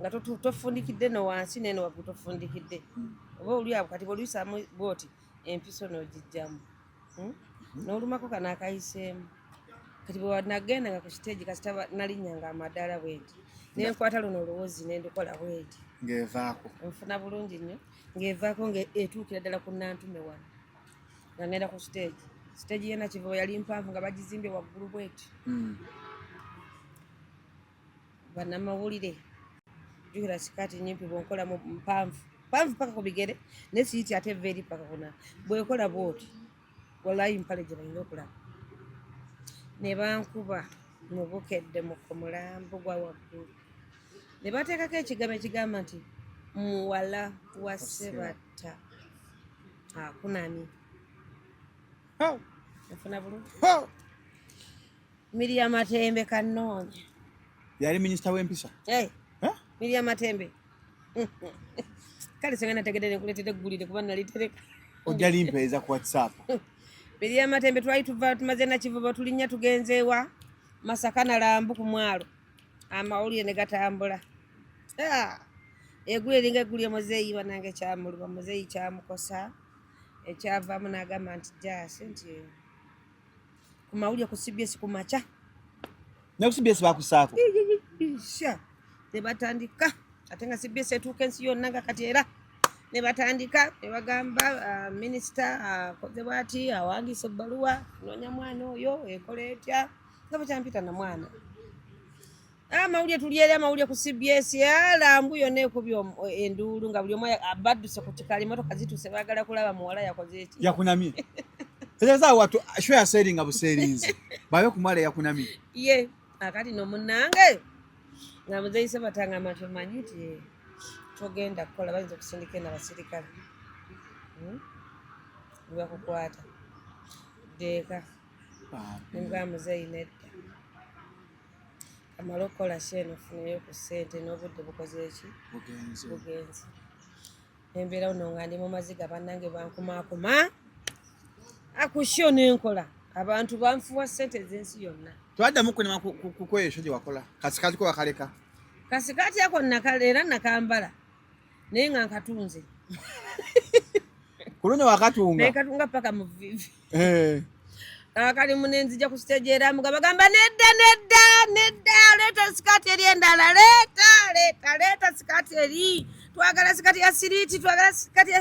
nga tofundikidde no wansi neno waggulu tofundikidde hmm. oba olyawo kati bwoluyisaamu bwoti empiso nogijjamu hmm? nolumako kano akayiseemu kati bwewanagenda nga ku siteegi kasita nalinnya nga amadaala bwenti nenkwata luno oluwozi nendukola bwenti ngevaako nfuna bulungi nnyo ngevaako ngaetuukira ddala ku nantume wano nga ngenda ku siteegi siteegi yena kiva yali mpanvu nga bagizimbye waggulu bweti hmm. bannamawulire jukira sikaati nyimpi bwonkolamu mpanvu mpanvu paka ku bigere naye siyiti ate eva eri paka kuna bwekola bwoti walayi mpale gye balina okulaba ne bankuba mu bukedde mu ku mulambo gwa waggulu ne bateekako ekigambo ekigamba nti muwala wa sebatta akunamye nafuna bulungi Miria Matembe Kanoonya yali minisita w'empisa hey. huh? Miria Matembe kale senga nategedde nekuleetera eggulire kuba nalitereka ojja limpeeza ku whatsapp Miria Matembe twali tuva tumaze nakivuba tulinnya tugenzeewa Masaka na Lambu ku mwalo amawulire ne gatambula ah, egulu eringa egulu emuzeeyi banange kyamuluba muzeeyi kyamukosa ekyavaamu n'agamba nti jaasi nti ku mawulire ku CBS ku makya ne ku CBS bakusaako sha ne batandika ate nga CBS etuuka ensi yonna nga kati era ne batandika ne bagamba uh, minisita akoze uh, bwati awandiisa ebbaluwa noonya mwana oyo ekola etya nga bakyampita na mwana amawulire ah, tulyeri amawulire ku cbs alambu ah, yona ekubya eh, enduulu nga buli omu abadduse ku kikala emotoka zituuse bagala kulaba muwala yakoze eki yakunamye ezaza watu sho yaseringa buserinzi babe kumwala yakunamye ye akati no munange nga muzeyise batanga amatwe manyi nti eh, togenda kukola bayinza okusindika ena basirikale hmm? bakukwata deeka nibwa muzeyi nedda amale okukola sheeni ofuneyo ku ssente n'obudde bukoze eki bugenzi embeera uno nga ndi mu maziga bannange bankumaakuma akusyo nenkola abantu banfuwa ssente ez'ensi yonna twaddamu kunema kukweyo ekyo gye wakola kasikati kwe wakaleka kasikati ako era nakambala naye nga nkatunze ku luno wakatunga naye katunga paka mu vivi eh. kakali munenzija ku stage era muga bagamba nedda nedda nedda leeta sikati eri endala leeta leeta leeta sikati eri twagala sikati ya siriti twagala sikati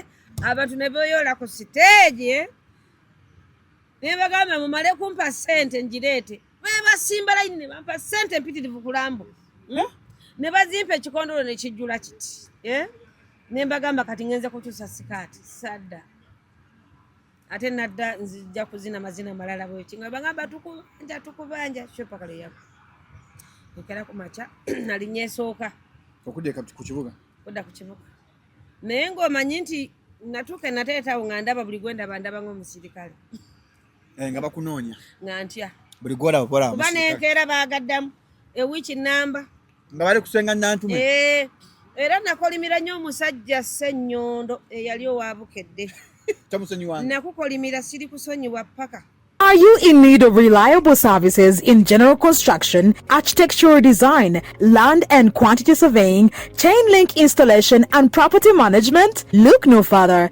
abantu ne beyola ku stage eh? ne bagamba mumale kumpa sente njireete bebasimba layini ne bampa ssente mpitirivu kulambo hmm? ne bazimpa ekikondolo ne kijjula kiti eh? ne mbagamba kati ngenze kukyusa sikaati sadda ate nadda nzija kuzina mazina malala bweki nga bagamba tukubanja tukubanja kyopaka lweyaku ekera ku makya nali nyesooka okudda ku kibuga kudda ku kibuga naye ng'omanyi nti natuuka enateetawo nga ndaba buli gwendaba ndaba ng'omusirikale eh, nga bakunoonya nga ntya buli gwolaba bola kuba nenkeera baagaddamu ewiiki nnamba nga bali kusenga nantume eh, era nakolimira nnyo omusajja sennyondo eyali owa bukedde nakukolimira siri kusonyiwa paka Are you in need of reliable services in general construction, architectural design, land and quantity surveying, chain link installation, and property management? Look no further.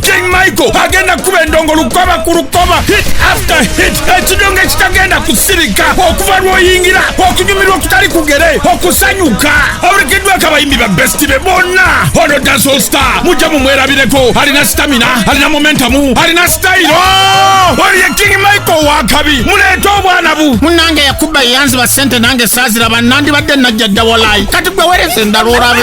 king michael agenda kukuba endongo lukoba ku lukoba hit after hit ekidongo ekitagenda kusirika okuva lwoyingira okunyumirwa okutali kugere okusanyuka awerekeddwako abayimbi ba besti be bonna ono dancehall star mujja mumwerabireko alina sitamina alina momentamu alina sitayiro oli ye king michael wakabi muleete obwana bu munange yakuba eyanziba sente nange saaziraba nandibadde najja dda walayi kati gwe wereza endala olabe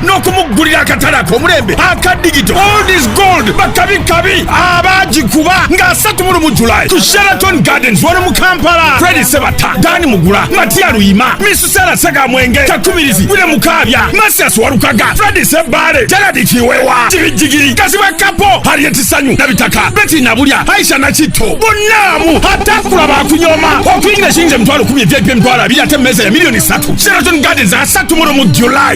n'okumuggulira akatale ak'omulembe aka digito old is gold bakabi kabi abaagikuba nga 31 mu julayi ku sheraton gardens wano mu kampala fredi sebata dani mugula matiya luyima misusera segamwenge kakubirizi wile mukaabya masias walukaga fredi sebbaale geradi kiwewa kibijjigiri kazibwa kapo hariyeti sanyu nabitaka beti nabulya aisha nakitto bonnamu atakula bakunyoma okuyingira ekiyinza emitwalo kumi ebyebye emitwalo abiri ate mmeeza ya miliyoni satu sheraton gardens asatu muno mu julayi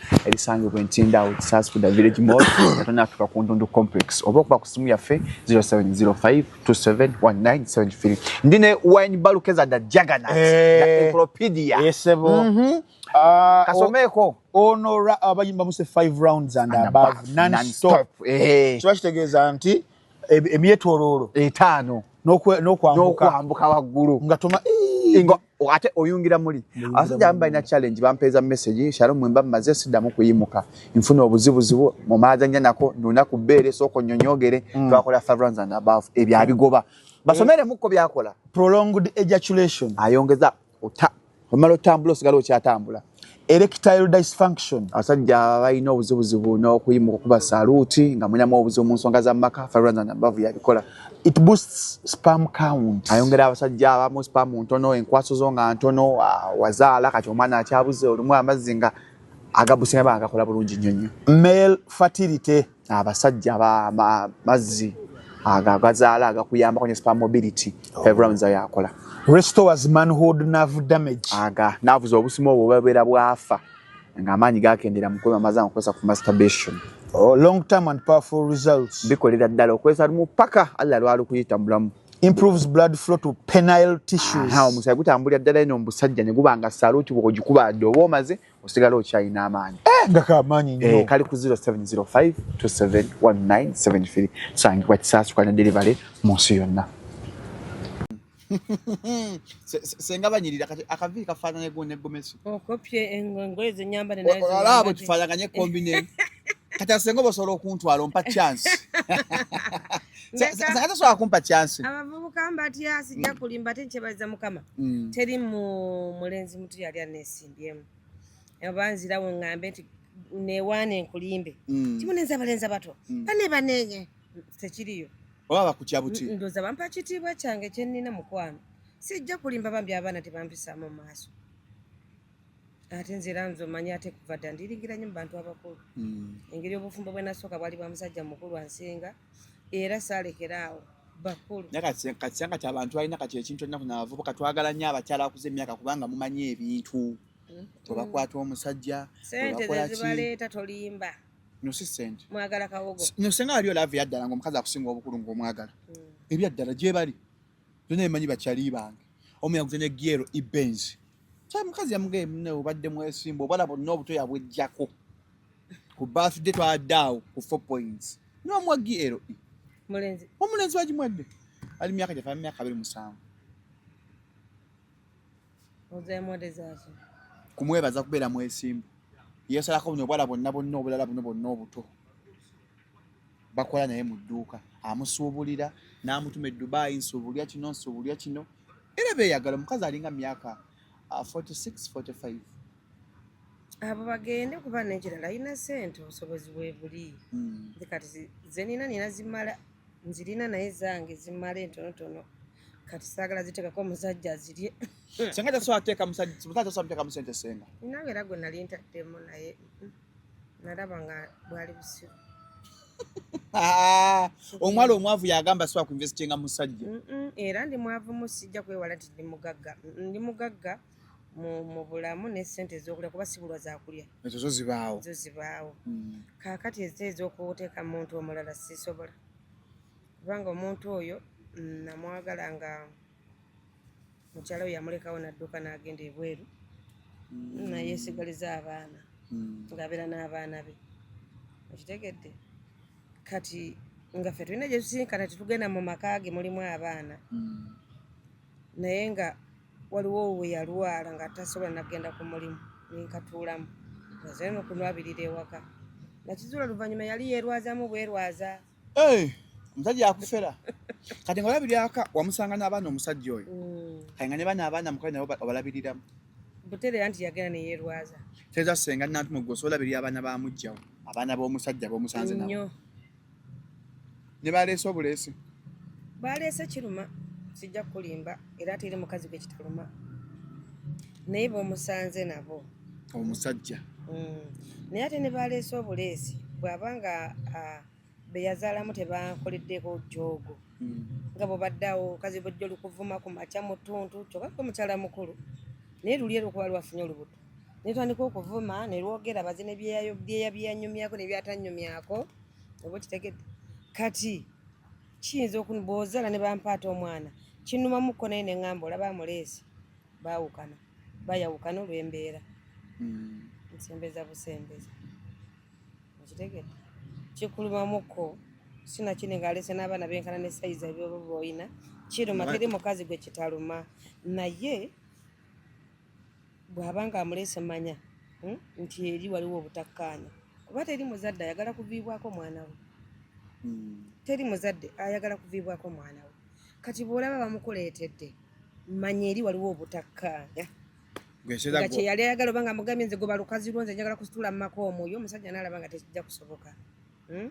erisangibwa entinda out saskuda village mall atonya atuka ku ndundu complex oba okuba ku simu yaffe 0705271973 ndi ne wine balukeza da jagana eh. encyclopedia yesebo mhm. ah, kasomeeko ono abayimba muse 5 rounds and above non stop eh. kiba kitegeeza nti emyetoloolo etaano n'okwambuka waggulu nga toma eh. ate oyungira muli abasajja abamu balina challenge bampeeza message shalo mwemba mmaze siddamu kuyimuka nfuna obuzibuzibu mu maaza nja nako nuna ku bbeere sooka onyonyogere mm. twakola favrans and above ebyo abigoba basomere mukko byakola prolonged ejaculation ayongeza omala otambula osigala okyatambula erectile dysfunction abasajja balina obuzibuzibu n'okuyimuka okuba saluuti nga mulinamu obuzibu mu nsonga za maka faranambavu yabikola it boosts spam count ayongera abasajja abamu spam ntono enkwaso zo nga ntono ah, wazaala kati omwana akyabuze olumu amazzi nga agabusinga bagakola bulungi nnyonnyo male fertility abasajja amazzi ago agazaala agakuyambako ne spa mobility oh. ebrowns yakola restores manhood nerve damage aga navuza obusimo obwo babeera bwafa nga amaanyi gakendera mukulu amaze amukozesa ku masturbation oh, long term and powerful results bikolera ddala okozesa lumu paka allah lwali kuyita mulamu improves blood flow to penile tissues omusaayi gutambulira ddala ino omusajja ne guba nga saluti bwogikuba dde oba omaze osigala okyalina amaanyi eh, nga kamaanyi nyo eh, kali ku 0705271973 sangibwa kisaasukanya derivale mu nsi yonna senga banyirira kati akaviiri kafaananye gwo ne gomesi okopye engoye zenyambale olaba bwetufaanaganye kombi ne kati asenga oba osobola okuntwala ompa chance senga tosobola kumpa chance abavubuka mbatya sijja kulimba ate nkyebaza mukama mm. teri mulenzi mutu yali anesi byemutubyemu oba nzirawo ngambe nti newaana enkulimbe mm. timunenza balenza bato mm. bane banenye tekiriyo oba bakutya buti ndoza bampa kitiibwa kyange kyenina mukwano sijja kulimba bambi abaana tebampisaamu mu maaso ate nze era nze omanyi ate kuva dda ndiringiranyo mu bantu abakulu mm. engeri obufumbo bwenasooka bwali bwa musajja mukulu ansinga era saalekera awo bakulu naye katisanga kati abantu balina kati ekintu olina kuna abavubuka twagala nnyo abakyala akuza emyaka kubanga mumanyi ebintu mm-hmm. webakwata omusajja sente zezibaleeta tolimba nosi sente mwagala kawogo nosenga waliyo laavu yaddala ngaomukazi akusinga obukulu ngaomwagala mm. ebyaddala gyebali byona emanyi bakyali bange omuyaguze ne giero ibenzi kya mukazi yamugaye mune obadde mwesimba obala bonna obuto yabwejjako ku birthday twadde awo ku four points niwamuwa glo e. omulenzi wagimwadde ali myaka gyafa myaka abiri musanvu kumwebaza kubeera mwesimbu yesalako buno obwala bonna bonna obulala buno bonna obuto bakola naye mu dduuka amusuubulira n'amutuma edubaayi nsuubulya kino nsuubulya kino era beeyagala omukazi alinga myaka 4645 uh, abo bagende kuba nekirala alina sente obusobozi bwebuli hmm. nze kati zenina nina zimala nzirina naye zange zimala entonotono kati saagala ziteekako omusajja azirye senga tasobola teeka musajja tasobola muteekamu sente senga ninawe era gwe nali ntaddemu naye mm. nalaba nga bwali busiru ah, omwala omwavu yagamba siwa kuinvestinga musajja era ndi mwavu mu sijja kwewala nti ndi mugagga ndi mugagga mu bulamu ne sente ezokulya kuba sibulwa zakulya ezo zo zibaawo zo zibaawo mm. kakati eze ezokuteeka muntu omulala sisobola kubanga omuntu oyo mm, namwagala nga mukyala we yamulekawo n'adduka n'agenda ebweru mm. naye esigaliza abaana mm. ng'abeera n'abaana be okitegedde kati nga ffe tulina gye tusinkana tetugenda mu maka ge mulimu abaana mm. naye nga waliwo we yalwala nga tasobola nagenda ku mulimu nenkatuulamu azeno kunwabirira ewaka nakizuula oluvannyuma yali yeerwazamu bwerwaza Eh, omusajja akufera kati nga olabira aka wamusanga n'abaana omusajja oyo mm. kati nga ne bana abaana mukale nabo obalabiriramu buterera nti yagenda neyerwaza teeza senga nantuma gwe osobola birira abaana ba mujjawo abaana b'omusajja b'omusanze nabo ne baleese obuleesi baleese kiruma sijja kukulimba era ate eri mukazi gwe kitaluma naye b'omusanze nabo omusajja mm. naye ate ne baleese obuleesi bw'aba nga be yazaalamu tebankoleddeko joogo mm. nga bwebaddawo kazi bwejja olukuvuma ku makya mu ttuntu kyoka kwe mukyala mukulu naye luli erukuba lwafunye olubuto naye twandika okuvuma ne lwogera baze ne byeyabyenyumyako ne byatanyumyako oba okitegedde kati kiyinza okunboozaala ne bampaata omwana kinumamuko naye ne ŋamba olaba amuleesi baawukana bayawukana olw'embeera hmm. nsembeza busembeza okitegedde kikulumamuko sinakini ng'alese n'abaana benkana ne sayizi ebyoba boolina kiruma teri mukazi gwe kitaluma naye bw'aba nga amulese manya hmm, nti eri waliwo obutakkaanya kuba teri muzadde ayagala kuviibwako mwana we hmm. teri muzadde ayagala kuviibwako mwana we kati bwolaba bamukuleetedde manya eri waliwo obutakkaanya nga kyeyali ayagala oba nga mugambye nze goba lukazi lwo nze njagala kusitula mu maka omwoyo omusajja naalaba nga tekijja kusoboka hmm?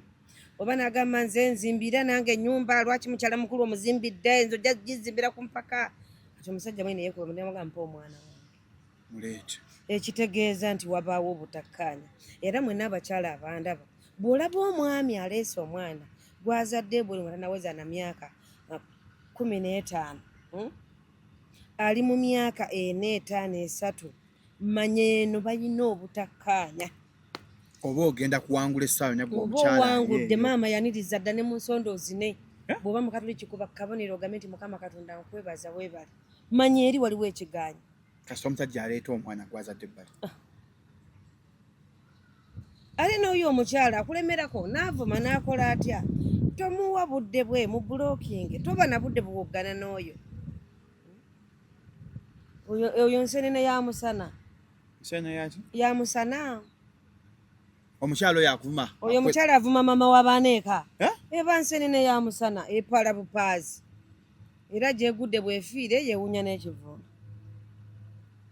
oba nagamba nze nzimbira nange enyumba lwaki mukyala mukulu omuzimbidde nze ojja gizimbira ku mpaka kati omusajja mwene yekuba mudamugamba mpa omwana wange ekitegeeza nti wabaawo obutakkaanya era mwena abakyala abandaba bw'olaba omwami aleese omwana gwazadde buli nga tanaweza na myaka uh, kumi n'etaano hmm? ali mu myaka ena etaano esatu manya eno balina obutakkaanya oba ogenda kuwangula essaawa nabwe omukyala oba owangudde maama yaniriza dda ne mu nsonda ozine eh? bw'oba mukatuli kikuba kabonero ogambe nti mukama katonda nkwebaza weebale manya eri waliwo ekigaanyi kasita omusajja aleeta omwana gwazadde ebbali ah. ali n'oyo omukyala akulemerako n'avuma n'akola atya tomuwa budde bwe mu bulokinge toba na budde buwoggana n'oyo oyo nsenene ya musana ya musana omukyala oyo akuvuma oyo omukyala avuma mama wa baana eka eba nsenene ya musana epala bupaazi era gyegudde bwefiire yewunya n'ekivulu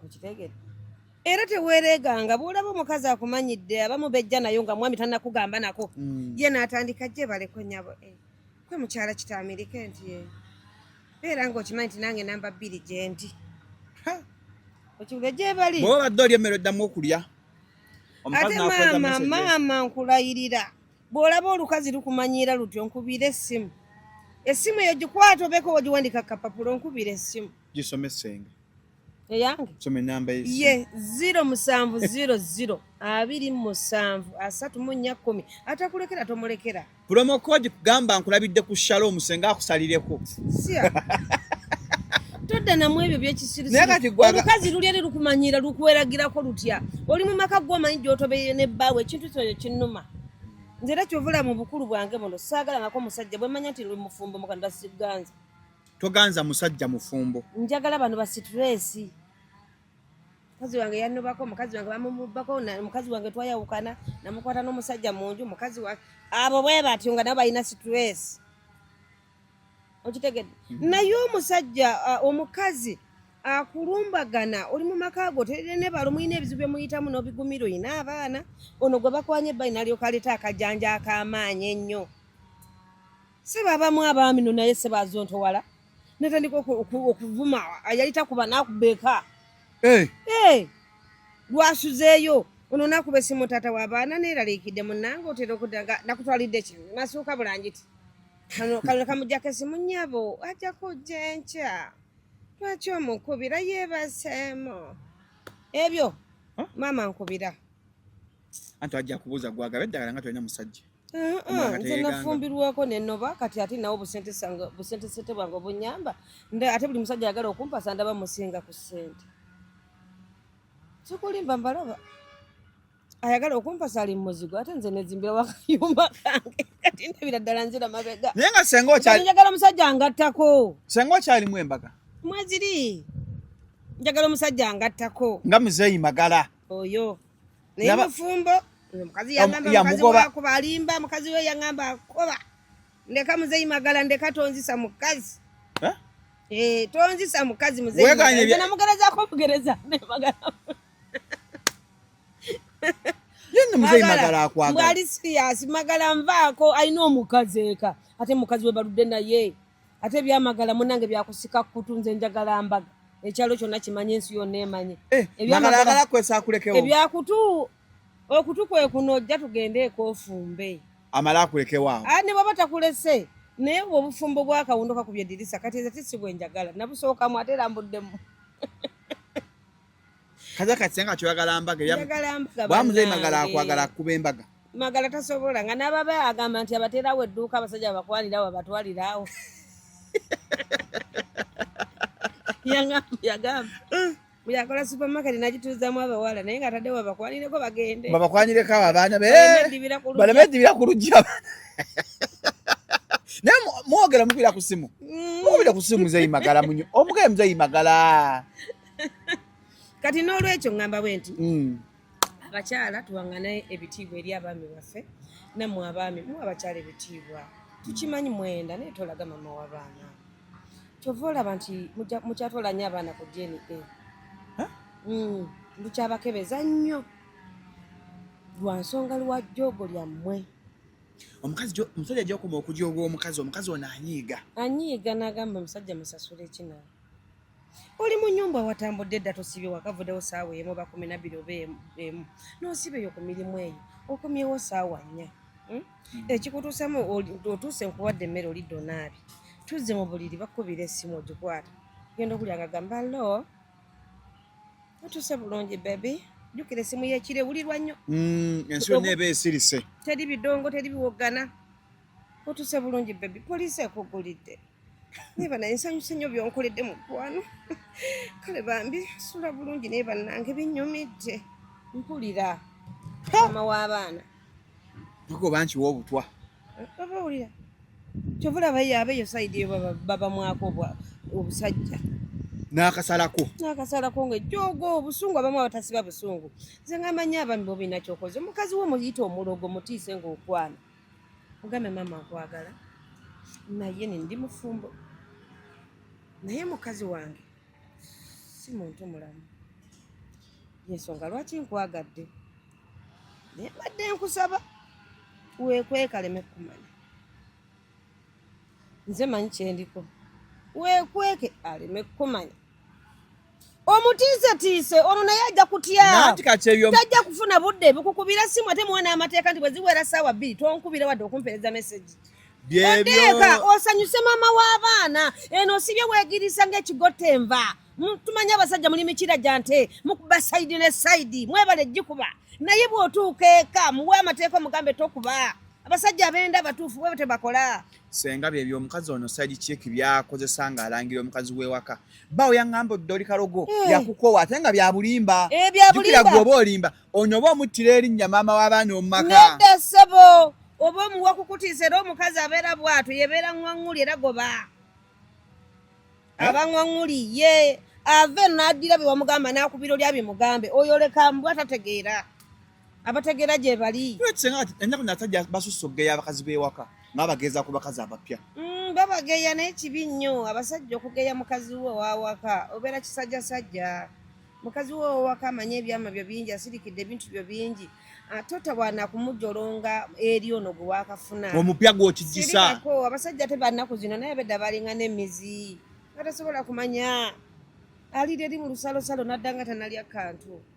okitegere era teweereeganga bwolaba omukazi akumanyidde abamu bejja nayo nga mwami tanakugamba nako mm. ye naatandika gye baleko nyabo eh, kwe mukyala kitaamirike nti eh, beera nga okimanyi nti nange namba bbiri gyendi okibuge gyebali bwoba badde oli emmere oddamu okulya ate maama maama nkulayirira Bw'olaba olukazi lukumanyiira lutyo nkubira essimu essimu eyo gikwata obeeko wagiwandika kapapula onkubira essimu gisome ssenga eyange soma enamba ye ziro musanvu ziro ziro abiri musanvu asatu mu nnya kkumi atakulekera tomulekera promo code kugamba nkulabidde ku shalo omusenga akusalireko todda namu ebyo byekisiriomukazi luli eri lukumanyiira lukweragirako lutya oli mu maka gwomanyi gyotobeye ne bbaawe ekintu kyoyo kinnuma nze era kyovula mu bukulu bwange buno saagalangako musajja bwemanya nti mufumbo mukanda siganza toganza musajja mufumbo njagala bano basituresi mukazi wange yanobako mukazi wange bamumubako mukazi wange twayawukana namukwata n'omusajja mu nju mukazi wange abo bwe batyo nga nabo balina situresi okitegedde mm-hmm. naye omusajja uh, omukazi akulumbagana oli mu maka go terere ne balo mulina ebizibu bye muyitamu n'obigumira olina abaana ono gwe bakwanye ebbali nalyoka aleeta akajanja ak'amaanyi ennyo seba abamu abaami no naye seba azontowala natandika okuvuma yali takuba nakuba eka eh. eh. lwasuzeeyo ono nakuba esimu taata w'abaana neeraliikidde munange otera okudda nga nakutwalidde kino nasuuka bulangiti kano kano kamujja kasimu nyabo ajja kujja enkya lwaki omukubira yeebaseemu ebyo maama nkubira anti ajja kubuuza gwagaba eddagala nga tolina musajja uh-uh, nze nafumbirwako nenoba kati ate nawo busentesente bwange obunyamba ate buli musajja ayagala okumpasa ndaba musinga ku sente sikulimba mbalaba ayagala okumpasa ali muzigo ate nze nezimbira wakayumba kange kati ndabira ddala nzira mabega naye nga senga okyali njagala omusajja angattako senga okyalimu embaga mweziri njagala omusajja angattako nga muzeeyi magala oyo naye mufumbo omukazi yagambaakuba alimba mukazi we yagamba akuba ndeka muzeeyi magala ndeka tonzisa mukazi eh? Eh, tonzisa mukazi muzeeyi namugerazaako omugereza nemagala yena muzeyi magala akwagala mbwali serious magala nvaako alina omukazi eka ate mukazi we baludde naye ate ebyamagala munange byakusika kutu nze njagala mbaga ekyalo kyonna kimanye ensi yonna emanye eh, ebyakutu okutu kwe kuno ojja tugende ekofumbe amala akulekewo awo ah, ne baba takulese naye bwe obufumbo bwakawunduka ku byedirisa kati eze tisi bwenjagala nabusookamu ate era mbuddemu kaza katse nga kyoyagala mbaga bwamuzeyi magala akwagala akuba embaga magala tasobola nga nababa agamba nti abaterawo edduuka abasajja bakwalirawo abatwalirawo yagamba bweyakola eh. supermarket nagituuzamu abawala naye nga ataddewo babakwalireko bagende babakwanyireko abo abaana baleme edibira ku luggi abaana naye mwogera mukubira ku simu mm. mukubira ku simu muzeyi magala omugaye muzeyi magala kati n'olwekyo ngamba bwe nti mm. abakyala tuwangane ebitiibwa eri abaami baffe nammwe abaami mu abakyala ebitiibwa tukimanyi mwenda naye tolaga mama w'abaana kyova olaba nti mukyatwala nnyo abaana ku dna mm, mukyabakebeza nnyo lwa nsonga lwa jjoogo lyammwe omukazi omusajja gyokuma okujooga omukazi omukazi ono anyiiga anyiiga n'agamba omusajja musasula ekinawe oli mu nyumba watambudde dda tosibye wakavudewo saawa emu oba kumi nabiri oba emu nosiba eyo ku mirimu eyo okomyewo saawa nnya hmm? Hmm. ekikutuusemu otuuse nkuwadde emmere oli donaabi tuzze mu buliri bakubira esimu ogikwata genda okulya nga gamba lo otuuse bulungi bebi jukira esimu yekire wulirwa nnyo hmm, ensi yonna eba esirise teri bidongo teri biwoggana otuse bulungi bebi poliisi ekugulidde naye banaye nsanyuse nnyo byonkoledde mukwano kale bambi sula bulungi naye bannange binyumidde mpulira mama w'abaana tuko bankiwa obutwa baba wulira kyova olaba yaabe eyo sayidi yo baba mwako obusajja n'akasalako n'akasalako nga ejjoogo obusungu abamu abatasiba busungu nze ngamanyi abami bobinakyokoze omukazi wo muyite omulogo mutiise ngaokwana ogambye maama nkwagala naye ni ndi mufumbo naye mukazi wange si muntu mulamu yensonga lwaki nkwagadde naye mbadde nkusaba weekwekaleme kukumanya nze manyi kyendiko weekweke aleme kukumanya omutiisetiise ono naye ajja kutya tajja kufuna budde bukukubira simu ate muwe n'amateeka nti bwe ziwera saawa bbiri tonkubira wadde okumpeereza mesegi oteeka osanyuse maama w'abaana eno sibye weegirisa ng'ekigotta enva tumanye abasajja muli mikira gya nte mukuba sayidi ne sayidi mwebale gikuba naye bw'otuuka eka muwe amateeka omugambe tokuba abasajja abenda abatuufu bwe tebakola senga byebyo omukazi ono side chick byakozesa nga alangira omukazi wewaka bawo yangamba oddoli kalogo hey. Eh. yakukowa ate nga byabulimba eh, jukira gwe oba olimba ono oba omuttira erinnya maama w'abaana omumaka nedda ssebo oba omuwa kukutiisa era omukazi abeera bwatu yebeera ŋwaŋuli era goba eh? aba ŋwaŋuli ye ave naddira bye wamugamba n'akubira olya bimugambe oyo leka mbwa tategeera abategera gye bali ennaku nasajja basusse okugeya abakazi b'ewaka nga bageeza ku bakazi abapya mm, babageya naye kibi nnyo abasajja okugeya mukazi wo wawaka obeera kisajjasajja mukazi wo wawaka amanye ebyama byo bingi asirikidde ebintu byo bingi atota bwana kumujolonga eri ono gwe wakafuna omupya gwokijisa abasajja te bannaku zino naye bedda balinga n'emizi atasobola kumanya alira eri mu lusalosalo naddanga tanalya kantu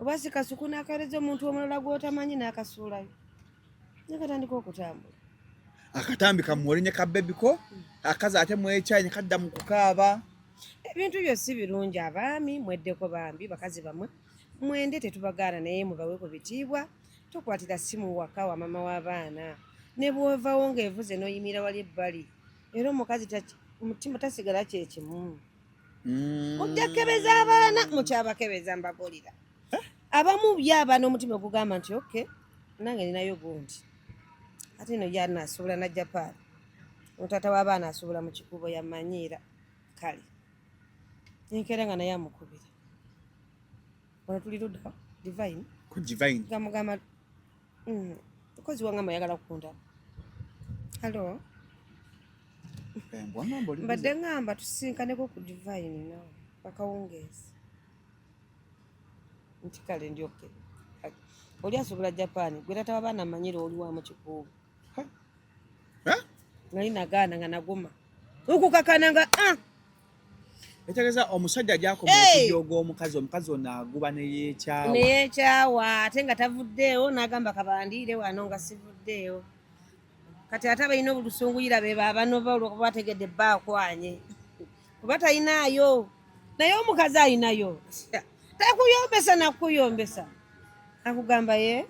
oba si kasuku n'akawereza omuntu omulala gw'otamanyi n'akasuulayo nakatandika okutambula akatambi kamuwole ne kabebi ko akazi ate mwekyayi ne kadda mu kukaaba ebintu byo si birungi abaami mweddeko bambi bakazi bamwe mwende tetubagaana naye mubawe ku bitiibwa tokwatira simu waka wa mama w'abaana ne bwovawo ng'evuze n'oyimira wali ebbali era omukazi omutima tasigala kyekimu mm. mujja kukebeza abaana mukyabakebeza mbabulira eh? abamu byaba n'omutima ogugamba nti ok nange ninayo gundi ate no yana asuubula na japan otaata w'abaana asuubula mu kikubo yamanyiira kale enkeera nga naye amukubira ono tuli ludda divine gamugamba Mm, mukozi wange amayagala kunda halo mbadde ngamba tusinkaneko ku divine nawe akawungeezi nti kale ndi oke oli asobola japan gwe tataba baana manyira oli wamu kikuubu nali nagaana nga naguma okukakana nga ah! etegeza omusajja gyakoma okujooga omukazi omukazi ono aguba neyekyawa neyekyawa ate nga tavuddeewo n'agamba kabandiire wano nga sivuddeewo kati ate abalina obulusunguyira be babanoba olwokuba bategedde bba akwanye kuba talinaayo naye omukazi alinayo takuyombesa nakuyombesa akugamba ye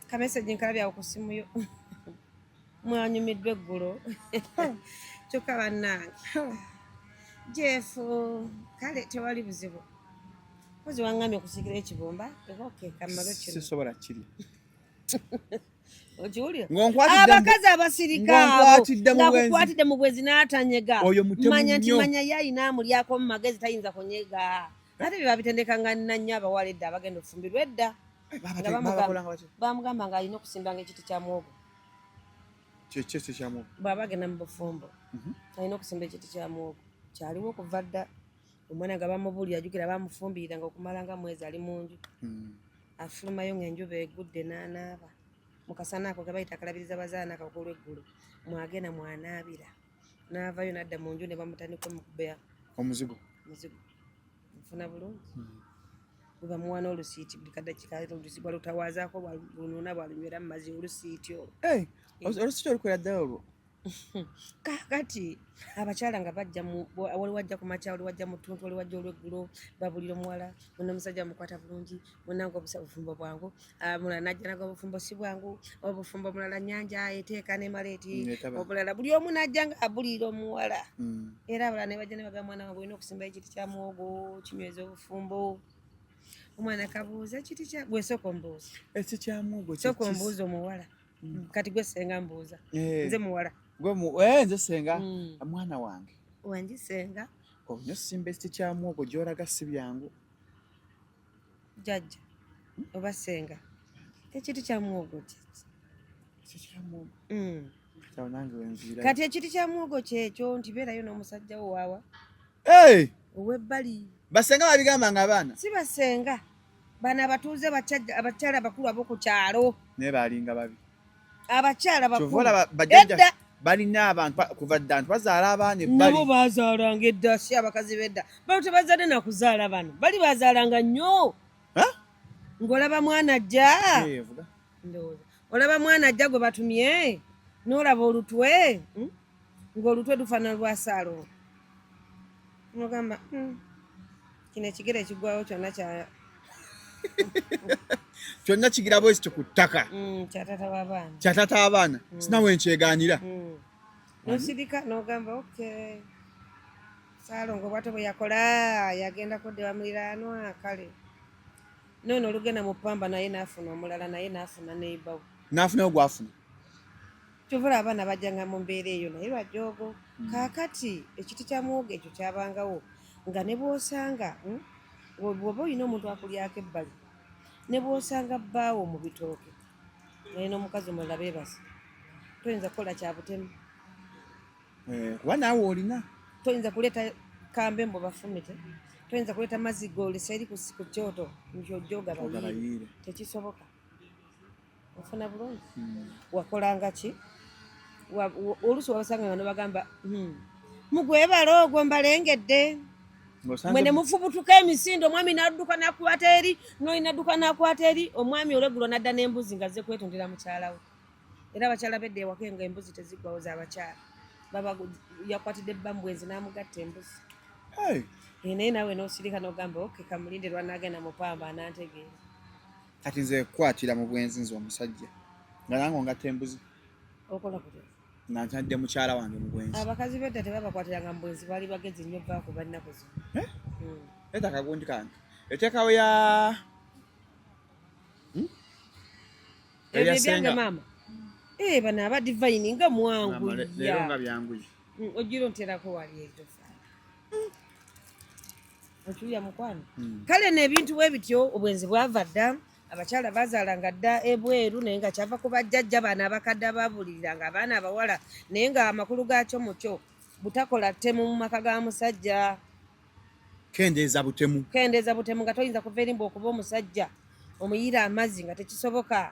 kamesegi nkalabyawo ku simu yo mwanyumiddwa eggulo kyokka bannange jefu kale tewali buzibu kozi wangambye okusikira ekibumba ekokekammalo kino sisobola kirya abakazi abasirikabonakukwatidde mu bwezi n'atanyega manya nti manya ye ayina amulyako mu magezi tayinza kunyega ate bye babitendekanga nannyo abawala edda abagenda okufumbirwa edda bamugamba nga alina okusimbanga ekiti kya mwogo kyekyekyo kya mwogo bwaba agenda mu bufumbo mhm. alina okusimba ekiti kya mwogo kyaliwo okuva dda omwana nga bamubulira ajukira bamufumbirira nga okumala nga mwezi ali mu nju hmm. afulumayo ngaenjuba egudde nanaaba mukasana ako kebayita akalabiriza bazaana kakulu eggulu mwagenda mwanaabira naavayo nadda mu nju ne bamutandika omukubeya omuzigo muzigo nfuna bulungi weba hmm. muwana olusiiti buli kadakika olusiiti bwalutawaazaako bwalunona bwalunywera mu mazi olusiiti olwo eh, olusiiti olukwera ddala olwo kakati abakyala nga bajja wali wajja ku makya wali wajja mu ttuntu wali wajja olweggulo babulira omuwala ono omusajja mukwata bulungi munange obusa bufumbo bwangu ah, mulala najja naga obufumbo si bwangu obufumbo mulala nyanja eteeka nemala eti obulala buli omu najja nga abuliira omuwala hmm. era abalala nebajja nebaga mwana wange olina okusimba ekiti kya muwogo kinyweza obufumbo omwana kabuuza kiti kya gwe soka ombuuza eki kya muwogo soka ombuuza omuwala hmm. kati gwe senga mbuuza eh. nze muwala gwe eh, nze senga hmm. mwana wange wangi senga onyo simba ekiti kya muwogo gyolaga si byangu jajja oba senga ekiti kya muwogo kyeki mm. kati ekiti kya muwogo kyekyo nti beerayo n'omusajja wo waawa ow'ebbali basenga babigamba nga abaana si basenga bano abatuuze abakyala abakulu ab'oku kyalo naye baalinga babi abakyala bakulaba bajja balina abantu kuva dda nti bazaala abaana ebbali nabo bazaalanga edda si abakazi bedda bano tebazadde nakuzaala bano bali bazaalanga nnyo ng'olaba mwana ajja ndowooza olaba mwana ajja gwe batumye n'olaba olutwe hmm? ng'olutwe lufaanana lwa saalo ogamba hmm. kino ekigere ekigwawo kyonna kya kyonna kigira bwezi kyo ku ttaka mm, kya tata w'abaana mm. sinawe nkyegaanira mm. nosirika nogamba ok salongo bwato bwe yakola yagenda kuddewa muliraanwa kale nono olugenda mu pamba naye nafuna omulala naye nafuna neibawo nafunayo gwafuna kyovula abaana bajjanga mu mbeera eyo naye lwajoogo hmm. kaakati ekiti kya muwogo ekyo kyabangawo nga ne bwosanga hmm, bwoba olina omuntu akulyako ebbali ne bwosanga bbaawo mu bitooke naye n'omukazi omulala beebasi toyinza kukola kya butemu eh, kuba naawe olina toyinza kuleeta kambe mbu bafumite toyinza kuleeta mazzi goolisa eri ku kyoto nti ojja ogabayiire tekisoboka ofuna bulungi hmm. wakolanga ki oluusi wabasanga nga nobagamba hmm, mugwebala ogwo mbalengedde mwe ne mufubutuka emisindo omwami nadduka nakwata eri noli nadduka nakwata eri omwami olwegulo nadda n'embuzi nga zekwetondera mukyala we era abakyala bedda ewaka nga embuzi teziggwawo zabakyala baba yakwatidde bambwenzi namugatta embuzi naye nawe nosirika nogamba oke kamulinde lwanagenda mupamba anantegeera kati nze kukwatira mu bwenzi nze omusajja nga nange ongatta embuzi okola kutya nga ntadde mukyala wange mu bwenzi abakazi bedda tebabakwatiranga mu bwenzi baali bagezi nnyo baku bannaku zino eh? hmm. eta kagundi kange eteekawo ya hmm? ebyo ebyange maama ee eh, bano aba divayini nga mwangu leero nga byanguye hmm, ojjira onterako wali ejo okiwulira mukwano hmm. kale n'ebintu bwe bityo obwenzi bwava dda abakyala bazaalanga dda ebweru naye nga kyava ku bajjajja baana abakadde ababulirira nga abaana abawala naye nga amakulu gaakyo mukyo butakola ttemu mu maka ga musajja kendeeza butemu kendeeza butemu nga toyinza kuva erimba okuba omusajja omuyiira amazzi nga tekisoboka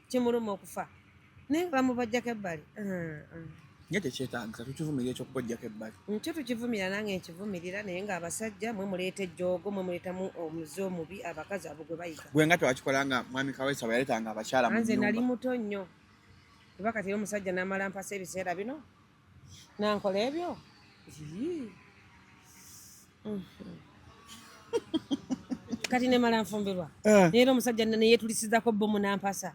kimuluma okufa naye nga bamubajjako ebbali nga tekyetagisa tukivumira ekyokubajjako ebbali nkyo tukivumira nange nkivumirira naye nga abasajja mwe muleeta ejjoogo mwe muleetamu omuzi omubi abakazi abo gwe bayiga gwe nga tewakikola nga mwami kawesa bwe yaleetanga abakyala nze nali muto nnyo kuba kati era omusajja namala mpasa ebiseera bino nankola ebyo kati nemala nfumbirwa eh. naye era omusajja neyetulisizako bomu nampasa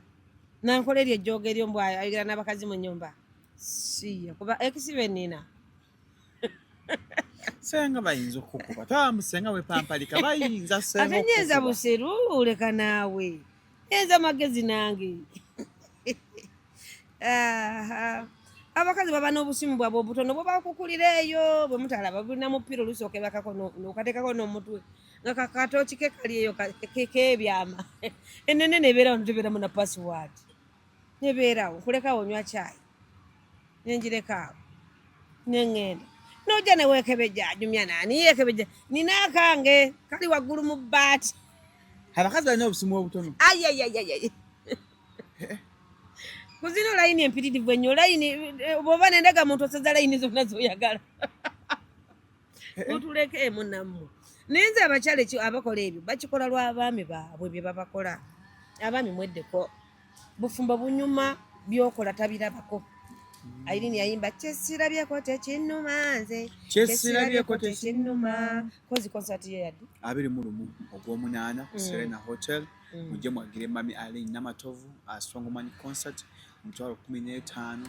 nankola eryo ejjooga eryo mbw ayogera n'abakazi mu nyumba siya kuba ekisibe nina senga bayinza okukuba tamusenga wepampalika bayinza ate nyeza buseru leka naawe enza magezi nange abakazi baba n'obusimu bwabwe obutono bwe bakukulira eyo bwe mutalaba bulina mupiira olusooka ebakako nokateekako n'omutwe nga kakatooki ke kali eyo kekeebyama enene nebeera wano tebeeramu na pasiwaadi nebeerawo nkulekawo onywa kyayi nengirekaawo nengenda noja newekebeja ajumya nani yekebeja nina akange kali waggulu mu bbaati abakazi balina obusimu obutono ayayayayay kuzino layini empitirivu ennyo layini eh, bwoba nendaga muntu oseza layini zonna zoyagala eh, eh. mutuleke emu nammwe naye nze abakyala ekyo abakola ebyo bakikola lwa abaami baabwe bye babakola abaami mweddeko bufumbo bunyuma byokola tabirabako mm. airini yayimba kyesirabyeko tekinuma nze kyesirabyeko tekinuma kozi konsati ye yadde abiri mu lumu ogwomunaana ku mm. serena hotel mm. mujje mwagire mami alin namatovu asongomanyi concert mutwalo kumi n'etaano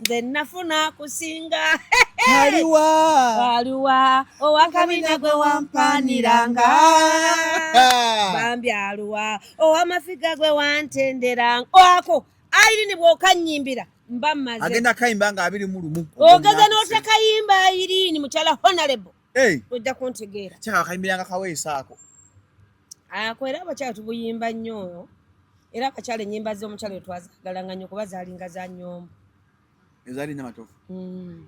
nze nafuna kusinga aliwa aliwa owakabina gwe wampaniranga bambi aluwa owamafiga gwe wantenderanga ako airini bwokanyimbira mba maze agenda kayimba nga abiri mu lumu ogeza n'otekayimba airini mukyala honorable ojja kuntegeera kyaka kayimbiranga kaweesa ako ako era abakyala tubuyimba nnyo oyo era abakyala ennyimba z'omukyala oyo twazagalanga nnyo kuba zaalinga za nyombo ezaali nna matofu hmm.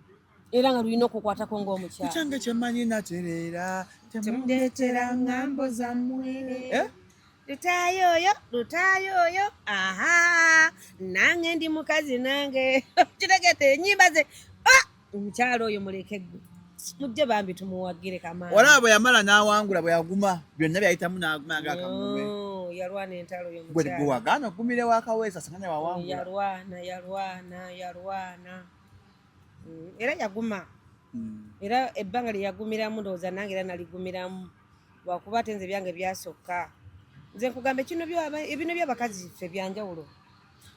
era nga lulina okukwatako ng'omukyala kyange kyemanyi natereera temundeetera ngambo zammwe eh? lutaayo oyo lutaayo oyo aha nange ndi mukazi nange kitegete enyimba ze ah! omukyalo oyo muleke gwe mujje bambi tumuwagire kamaani olaba bwe yamala n'awangula bwe yaguma byonna byayitamu n'aguma nga akamume yalwana entalo yomugwe wagaana okugumira wakaweesa singa ne wawangula yalwana yalwana yalwana mm, era yaguma mm. era ebbanga lye yagumiramu ndowooza nange era naligumiramu lwakuba ate nze byange byasokka nze nkugamba ebino byabakazi ffe byanjawulo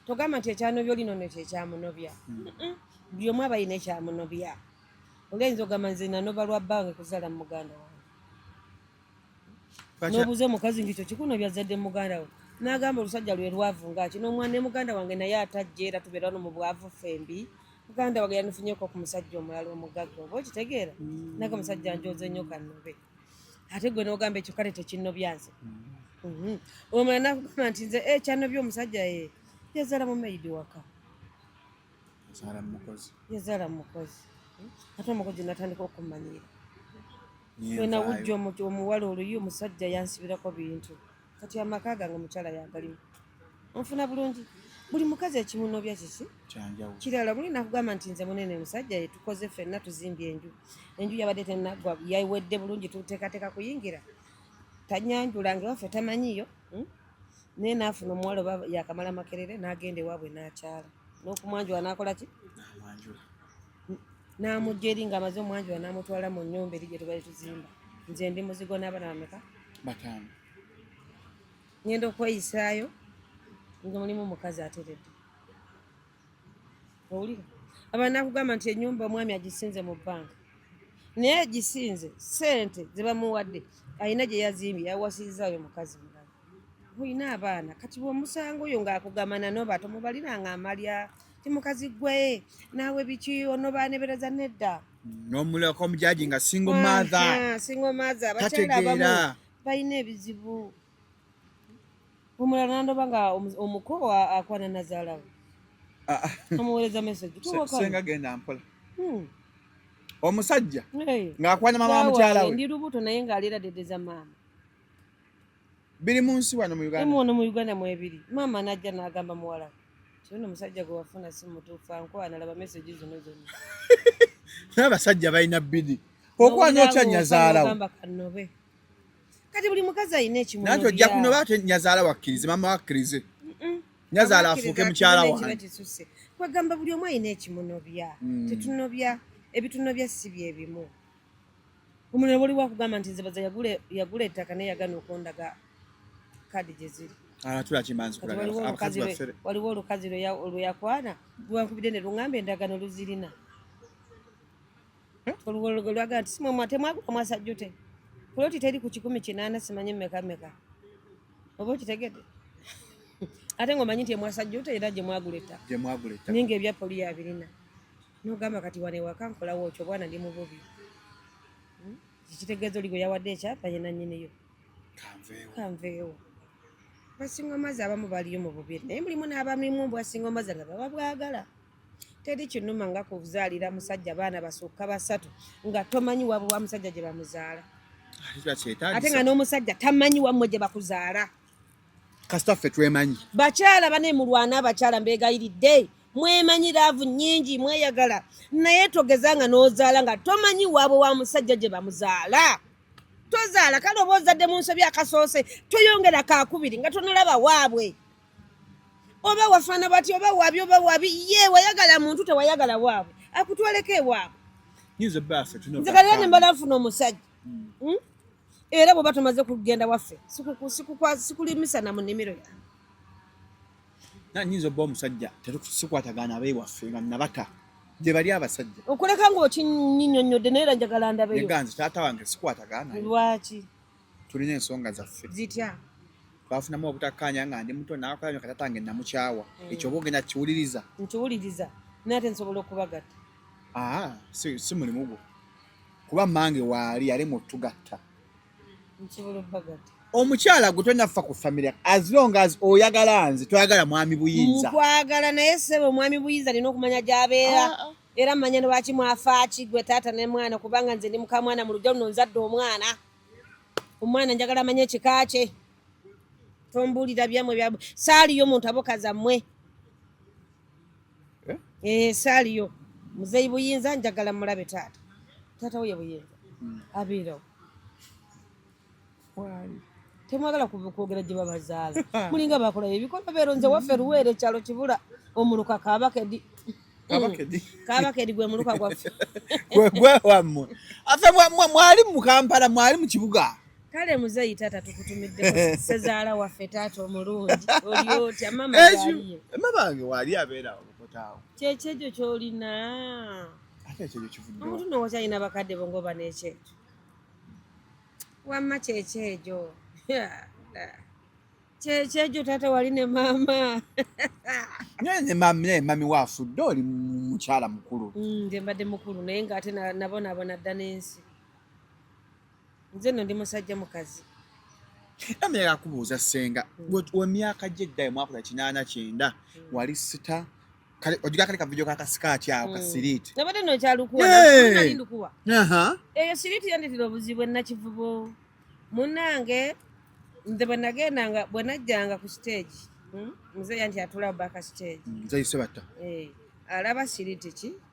togamba nti ekyanobya oli nono kyekyamunobya hmm. buli omu aba yina ekyamunobya olayinza ogamba nze nanoba lwa bange kuzala muganda wange nobuuza omukazi nti ekyo kikunobya zadde muganda we nagamba olusajja lwe lwavu ngaki nomwana ne muganda wange naye atajja era tubeera no mu bwavu fembi muganda wange yanifunyeko ku musajja omulala omugagga oba okitegeera hmm. naga musajja njoze nnyo kanobe ate gwe nogamba ekyo kale tekinnobyanze mhm. omala nakugamba nti nze eh, kyanobya omusajja ye eh, yazala mumaidi waka yazala mukozi ate omukozi natandika okumanyiira wenawujja omuwala oluyi omusajja yansibirako bintu kati amaka gange omukyala yagalimu onfuna bulungi buli mukazi ekimunobya kiki kirala buli nakugamba nti nze munene musajja yetukoze fenna tuzimbye enju enju yabadde tenagwa yawedde bulungi tuteekateeka kuyingira tanyanjula nga waffe tamanyiyo hmm? naye naafuna omuwala oba yakamala makerere n'agenda ewaabwe n'akyala n'okumwanjula n'akola ki n'amugya eri nga amaze omwanjula n'amutwala mu nnyumba eri gye tubali tuzimba nze ndi muzigo n'abana bameka bataano ngenda okweyisaayo nga mulimu omukazi ateredde owulira abantu nakugamba nti enyumba omwami agisinze mu bbanka naye agisinze sente zebamuwadde alina gye yazimbye yawasirizaayo mukazi mulala mulina abaana kati bwomusango oyo ngaakugamba nanoba tomubaliranga amalya timukazi gwe naawe biki onobanebereza nedda nomuleka omujaji nga singo matha singo matha bakyala abamu balina ebizibu omulala nandoba nga omuko akwana nazalawo ah, ah. omuwereza message senga genda mpola hmm. omusajja ng'akwana mama wa mukyala we ndi lubuto naye ng'alira dedeza maama biri mu nsi wano mu Uganda mu mu Uganda mu ebiri maama najja n'agamba muwala kino omusajja gwe wafuna si mutuufu ankwana laba meseji zino zonna n'abasajja balina bidi okwana otya nyazaalawo kati buli mukazi alina ekimu nanti ojja kuno baate nyazaala wakkirize maama wakkirize nyazaala afuuke mukyala wange kwegamba buli omu alina ekimunobya mm. tetunobya ebitunobya si byebimu Omuntu ne bw'oliwo akugamba nti nze baza yagula ettaka naye yagana okundaga kaadi gye ziri ah, waliwo olukazi lwe yakwana lwankubidde ne lungamba endagano luzirina oluwologolo lwaga nti simwe mwate mwagula mwasajjute kuloti teri ku kikumi kinaana simanyi meka meka oba okitegede ate nga omanyi nti emwasajjute era gye mwagula ettaka ninga ebya poli yabirina nogamba kati wano ewaka nkolawo okyo obwana ndi mububi hmm? kikitegeeza oli gwe yawadde ekyapa ye nanyiniyo kanveewo basinga omazi abamu baliyo mu bubiri naye mulimu n'abamimu mbu basinga omazi nga baba bwagala teri kinuma nga kuzaalira musajja baana basukka basatu nga tomanyi wabwe wa musajja gye bamuzaala ate nga n'omusajja tamanyi wammwe gye bakuzaala kasita ffe twemanyi bakyala bane mulwana abakyala mbegayiridde mwemanyi laavu nyingi mweyagala naye togeza nga nozaala nga tomanyi waabwe wa musajja gye bamuzaala tozaala kale oba ozadde mu nsobi akasoose toyongera kakubiri nga tonalaba waabwe oba wafaana bati oba wabi oba wabi ye wayagala muntu tewayagala waabwe akutwaleko ewaabwe nze kalera ne mbala nfuna omusajja hmm? era bw'oba tumaze kugenda waffe sikulimisa na mu nnimiro yange na nyinza obba omusajja tetusikwatagana abewaffe nga nabata gye bali abasajja okuleka ng'okinyinyonnyodde naye era njagala ndabeyo ganzi taata wange sikwatagana lwaki tulina ensonga zaffe zitya twafunamu obutakkaanya nga ndi muto nakola nyo katata nge namukyawa mm. ekyo oba ogenda kiwuliriza nkiwuliriza naye ate nsobola okubagatta aa si mulimu gwo kuba mange waali yalemwa otugatta omukyala gwe tolina kufa ku famire as long as oyagala nze toyagala mwami buyinza nkwagala naye sebo omwami buyinza alina okumanya gyabeera ah, ah. era manya lwaki mwafaaki gwe taata ne mwana kubanga nze ndi mukamwana mu lujja luno nzadde omwana omwana njagala amanye ekika kye tombuulira byamwe byamwe saaliyo omuntu abokazammwe eh? eh, saaliyo muzeyi buyinza njagala mulabe taata taata woye buyinza hmm. abeerawo temwagala kwogera gye babazaala mulinga bakola ebikola beero nze waffe luweera ekyalo kibula omuluka kabakedi kabakedi gwe muluka gwaffe gwewammwe afe mwali mu kampala mwali mu kibuga kale muzeyi taata tukutumiddeko sezaala waffe taata omulungi oli otya mama yaliye mamange waali abeera olukotaawo kyekyejo kyolina ate ekyejo kivudde omuntu no wakyalina bakadde bo ngoba n'ekyejo wamma kyekyejo kyekyejo taata wali ne maama ne mami waafudde oli mukyala mukulu mm, nze mbadde mukulu naye ng'ate nabonabona dda n'ensi Nze no ndi musajja mukazi. Ame ya kubuza senga. Mm. Wa miaka je dai mwako ya chinana chenda. Mm. Wali sita. Kale ojiga kale ka video ka kasika cha mm. kasiriti. Na bado no cha lukuwa. Hey. Na lindu kuwa. Aha. Uh -huh. E siriti yandi tilo buzibwe na chivubo. Munange. Nze banagenda nga bwanajjanga ku stage. Hmm? Mzee yanti atula baka stage. Mzee yisebata. Eh. Hey. Alaba siriti chi.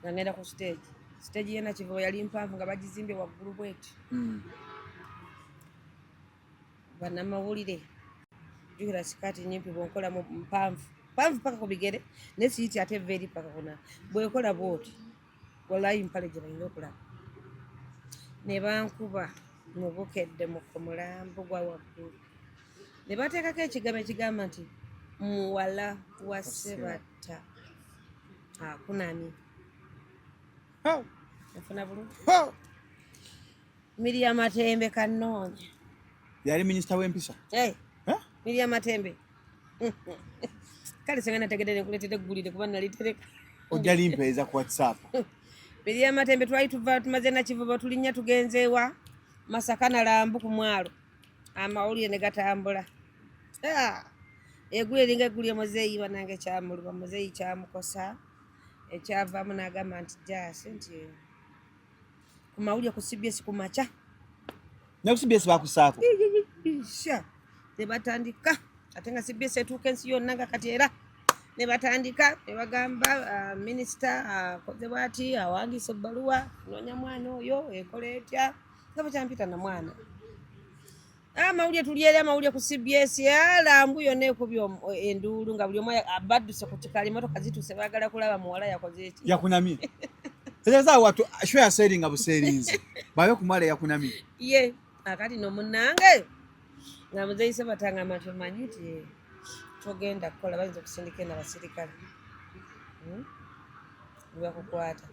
nga ngenda ku siteegi siteegi yena kivubo yali mpanvu nga bagizimbye waggulu bweti hmm. banamawulire jukira sikaati nyimpi bwenkola mpanvu mpanvu paka ku bigere naye siyiti ate eva eri paka kuna bwenkola bwoti walayi mpale gye balina okulaba ne bankuba mu bukedde mu ku mulambo gwa waggulu ne bateekako ekigambo ekigamba nti muwala wa sebatta Ah, kunani? Ho. Nafuna bulu. Ho. Miriam Matembe kanonye. Yali minister w'empisa. Eh. Hey. Huh? Miriam Matembe. Kale senga nategedde nekuletedde gulide kuba nalitereka. Ojja limpeeza ku WhatsApp. Miriam Matembe twali tuva tumaze na kivubo tulinya tugenzeewa Masaka na Lambu ku mwalo. amawulire ne gatambula ah! egulu eringa egulu emuzeeyi banange kyamuluba muzeeyi kyamukosa ekyavaamu n'agamba nti jaasi nti ku mawulire ku cbs ku makya ne ku cbs bakusaako ne batandika ate nga cbs etuuka ensi yonna nga kati era ne batandika ne bagamba ah, minisita akoze ah, bwati awandiisa ebbaluwa noonya mwana oyo ekola etya nga bwekyampita na mwana amawulire ah, tulyeri amawulire ku cbs alambu ah, yona ekuby enduulu nga buli omu badduse ku kikala emotoka zituuse bagala kulaba muwala yakoze eki yakunamye tegeeza watu sho yaseeringa buseerinzi babe kumwala yakunamye ye akati ah, nomunange nga muzeise batanga amatu omanyi ti togenda kukola bayinza okusindika ena basirikale hmm? webakukwata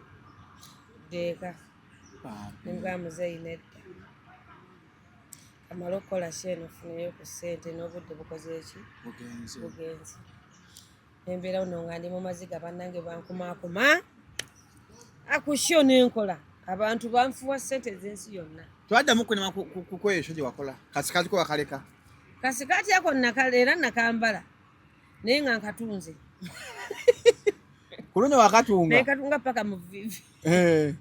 deeka Nga muzeeyi nedda. Kamala okukola shi eno ofuneyo ku ssente n'obudde bukoze eki? Bugenze. Bugenze. Embeera uno nga ndi mu maziga bannange bankumaakuma. Akusho n'enkola. Abantu banfuwa ssente ez'ensi yonna. Twaddamu kunema kukweyo ekyo gye wakola. Kasikaati ko wakaleka. Kasikaati ako nakala era nakambala. Naye nga nkatunze. Ku luno wakatunga. Naye katunga paka mu vivi. eh.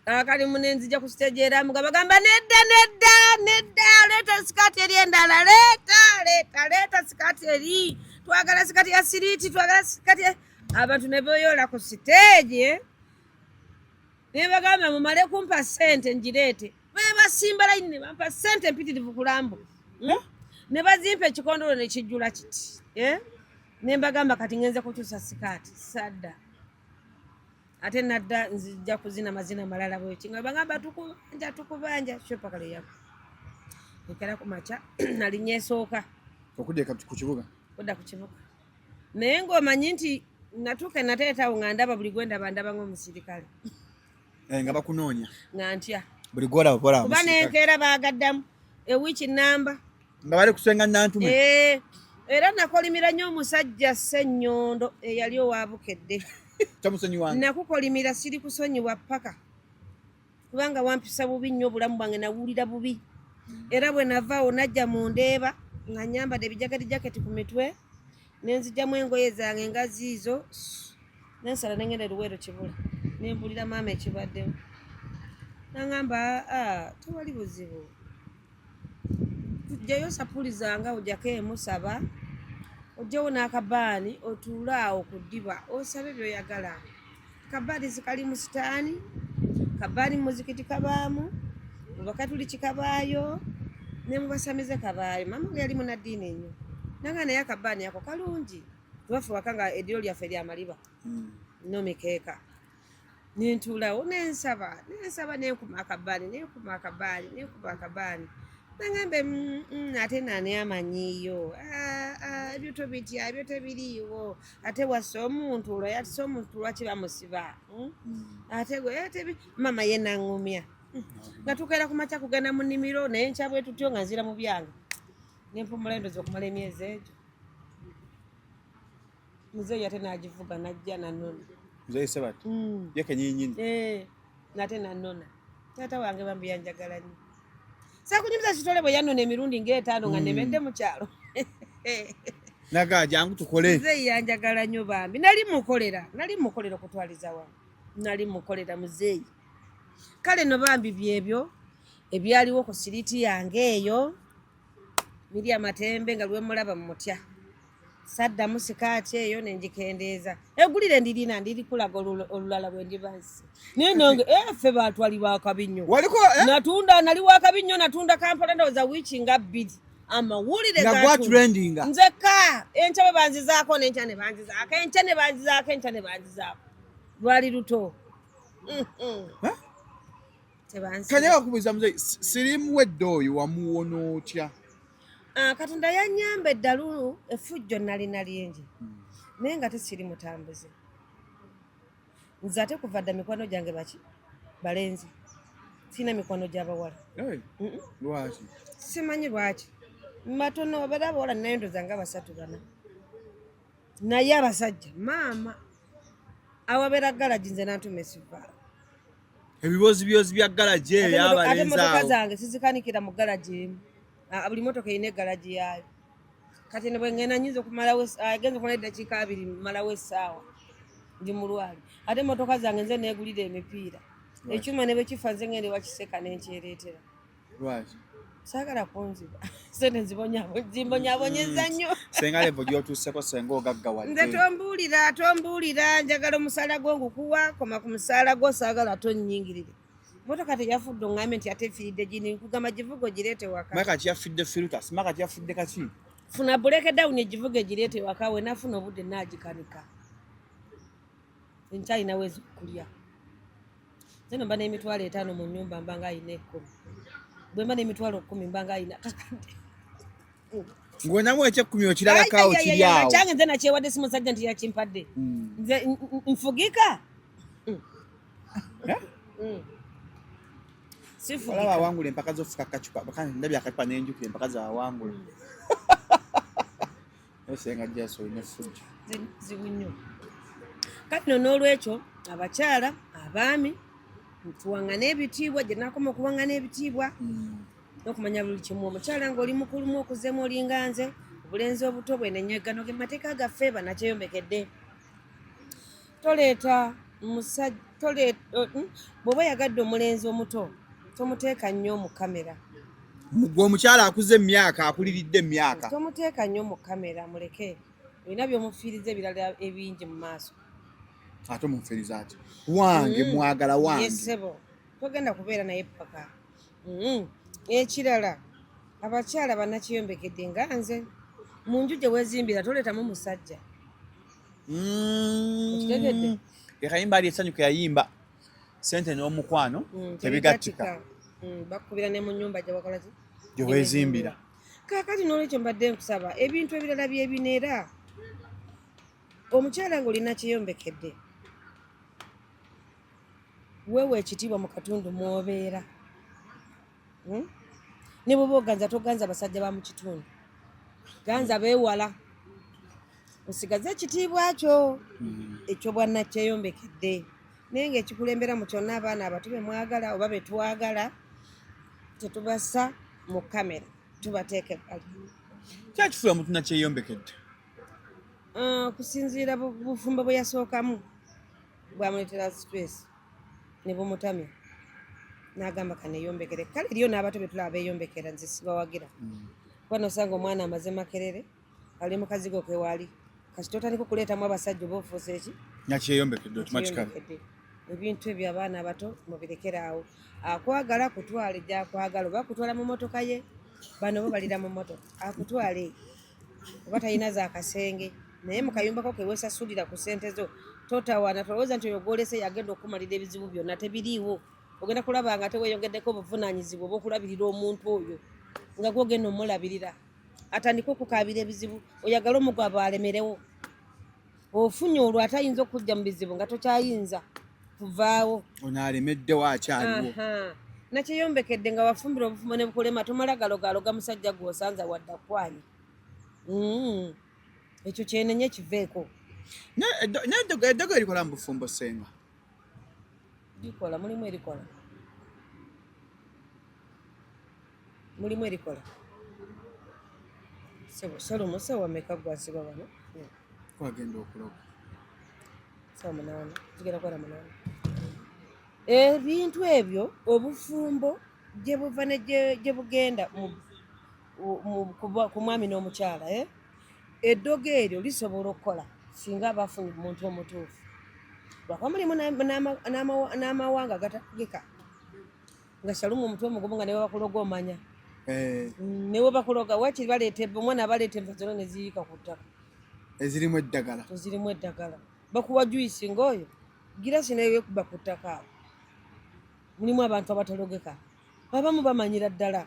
kakali mune nzija kukitegeera mugamba gamba nedda nedda nedda leeta sikaati eri endala leeta leeta leeta sikaati eri twagala sikaati ya siriiti twagala sikaati abantu ne beyola ku siteegi eh? ne bagamba mumale kumpa sente ngireete bebasimba layini ne bampa sente mpitirivu kulambu hmm? ne bazimpa ekikondolo ne kijjula kiti eh? ne mbagamba kati ngenze kukyusa sikaati sadda ate nadda nzija kuzina mazina malala bweki nga bagamba tukubanja tukubanja kyopaka leyako ekera ku makya nali nyesooka okudda ku kibuga kudda ku kibuga naye ng'omanyi nti natuuka nateetawo nga ndaba buli gwe ndaba ndaba ng'omusirikale eh, nga bakunoonya nga ntya buli gwolaba kuba nenkeera baagaddamu ewiiki namba nga bali kusenga nantume eh, era nakolimira nnyo omusajja ssenyondo eyali owa bukedde nakukolimira siri kusonyiwa paka kubanga wampisa bubi nnyo obulamu bwange nawulira bubi era bwe navaawo najja mu ndeeba nga nyambadde ebijagadi jaketi ku mitwe nenzijamu engoye zange nga ziizo nensala nengenda eruweero kibula nembulira maama ekibaddemu nangamba ah, tewali buzibu tujjayo sapuli zanga ojako emu saba ojjewo n'akabaani otuule awo ku ddiba osabe byoyagala kabaani zikali mu sitaani kabaani muzikiti kabaamu mubakatuliki kabaayo ne mubasamize kabaayo maama ge yali munaddiini enyo nanga naye akabaani ako kalungi tubafe waka nga eddiro lyaffe lyamaliba mm. nomikeeka nentuulawo nensaba nensaba nenkuma akabaani nenkuma akabaani nenkuma akabaani nangamba mm, mm, ate nani amanyiyo ah, ah, ebyo tobitya ebyo tebiriiwo ate wasa omuntu olwo yatisa omuntu lwaki bamusiba hmm? mm. ate gwe eh, mama ye nangumya hmm. nga tukeera ku makya kugenda mu nnimiro naye nkyabwe tutyo nga nzira mu byange nempumula endozi okumala emyezi egyo Muzeeyi ate n'agivuga n'ajja nanona. Muzeeyi Sebati mm. ye kenyinyini eh, nate nanona. Taata wange bambi yanjagala nnyo. Saakunyumiza kitole bwe yanona emirundi ng'etaano nga mm. nemedde mu kyalo. Naga jangu tukole. Muzeeyi yanjagala nnyo bambi. Nali mukolera, nali mukolera okutwaliza wa. Nali mukolera muzeeyi. Kale no bambi byebyo ebyaliwo ku siriti yange eyo. Miriam Matembe nga lwemulaba mutya. saddamu sikaati eyo ne ngikendeeza egulire ndirina ndirikulaga olulala bwe ndiba nsi naye nange eh, ffe batwali bakabi nnyo eh? natunda nali wakabi nnyo natunda kampala ndowooza wiiki nga bbiri amawulire gagwatrendinga nzekka enkya bwe banzizaako nenkya ne banzizaako enkya ne banzizaako enkya ne banzizaako lwali luto mm, mm. kanya bakubuuza muzeyi sirimu wedde oyo wamuwona otya ah, katonda yanyamba eddalu efujjo nalina lingi hmm. naye nga tekiri mutambuze nze ate kuva dda mikwano gyange baki balenzi sirina mikwano gyabawala lwaki simanyi lwaki matono obera abawala naye ndoza nga basatu bana naye abasajja maama awabeera galagi nze nantuma esivaala ebiboozi byozi bya galagi eyo yabalenzi ate motoka zange sizikanikira mu galagi emu ah, buli motoka erina egalagi yaayo kati ne bwengenda nyinza okumalawo ah, genza okumala eddakiika abiri malawo essaawa ndi mulwali ate motoka zange nze negulira emipiira ekyuma ne bwekifa nze ngende wakiseka nenkyereetera lwaki saagala kunziba sente nzibonyabonyeza nnyo hmm. senga levo gyotuuseko senga ogaggawal nze tombuulira tombuulira njagala omusaala gwo ngukuwa koma ku musaala gwo saagala tonnyingirire motoka teyafudde oŋambe nti ate efiridde gini nkugamba givuga ogireete waka maka kati yafudde filtas maka kati yafudde kaki funa buleke dawuni egivuga egireete waka wenafuna obudde naagikanika enkya alina wezi okulya nze nomba n'emitwalo etaano mu nyumba mba nga alina ekkumi bwe mba n'emitwalo kkumi mba nga alina kakadde ng'onamu ekyekkumi okirabakaawo kiryawo kyange nze nakyewadde si musajja nti yakimpadde hmm. nze nfugika eh? hmm. olaba awangula empaka zofuka kacupa ndabye akacupa nenjukira empaka zawangula senga jasi olina effujjo zibu nnyo kati no n'olwekyo abakyala abaami tuwangane ebitiibwa gye nakoma okuwangana ebitiibwa mm. nokumanya buli kimu omukyala ngaoli mukulumu okuzemu olinga nze obulenzi obuto bwenenyegano ge mateeka gaffe banakyeyomekedde toleeta musajja hmm? bwoba oyagadde omulenzi omuto tomuteeka nnyo mu kamera gwe omukyala akuze emyaka akuliridde emyaka tomuteeka nnyo mu kamera muleke olina byomufiiriza ebirala ebingi mu maaso ate omufiiriza ati wange hmm. mwagala wange sebo togenda kubeera naye paka hmm. ekirala abakyala banakiyombekedde nga nze mu nju gye wezimbira toleetamu musajja mm. ekayimba ali esanyu keyayimba sente n'omukwano mm, tebigattika mm, bakubira ne mu nyumba gyebakolaki gyewezimbira kakati n'olwekyo mbadde nkusaba ebintu ebirala byebino era omukyala ng'olina kyeyombekedde weewa ekitiibwa mu katundu mwobeera hmm? ne bwoba oganza toganza basajja ba mu kitundu ganza beewala osigaze ekitiibwa kyo hmm. ekyobwannakyeyombekedde naye nga ekikulembera mu kyonna abaana abato bemwagala oba betwagala tetubasa mu kamera tubateeka ebbali kyakifuula omuntu nakyeyombekedde ah, okusinziira bufumbo bwe yasookamu bwamuleetera stress ne bumutamya n'agamba kaneeyombekere kale eriyo n'abato be tulaba beeyombekera nze sibawagira mm. kuba nosanga omwana amaze makerere ali mukazigo kewaali kati totandika okuleetamu abasajja oba ofuusa eki nakyeyombekedde otumakikala ebintu ebyo abaana abato mubirekere awo akwagala kutwale gyakwagala oba kutwala mu motoka ye bano bo balira mu motoka akutwale oba talina za kasenge naye mu kayumbako kewesasulira ku sente zo totawana tolowooza nti oyo gwolese yagenda okukumalira ebizibu byonna tebiriiwo ogenda kulaba nga teweyongeddeko obuvunaanyizibwa obwokulabirira omuntu oyo nga gwogenda omulabirira atandike okukaabira ebizibu oyagala omugwabo alemerewo ofunye olwo atayinza okujja mu bizibu nga tokyayinza kuvaawo ono alemeddewo akyaliwo nakyeyombekedde nga wafumbira obufumbo ne bukulema tomala galogaloga musajja gwe osanza wadda kwanya mm. ekyo kyenenye kiveeko eddogo erikola mu bufumbo senga likola mulimu erikola mulimu erikola salomo sawa meka gwaziba bano kwagenda okuloba sawa munaana zigenda kwala munaana ebintu ebyo obufumbo gye buva ne gye bugenda ku mwami n'omukyala eh? eddogo eryo lisobola okukola singa abafunye omuntu omutuufu lwakuba mulimu n'amawanga agatakugika nga shalumu omutwe omugumu nga newebakuloga omanya eh. mm, newebakuloga wakiri baleeta omwana abaleeta enva zona neziyiika ku ttaka ezirimu eddagala ezirimu eddagala bakuwa juisi ngaoyo girasi naye wekuba ku ttaka awo mulimu abantu abatalogeka abamu bamanyira ddala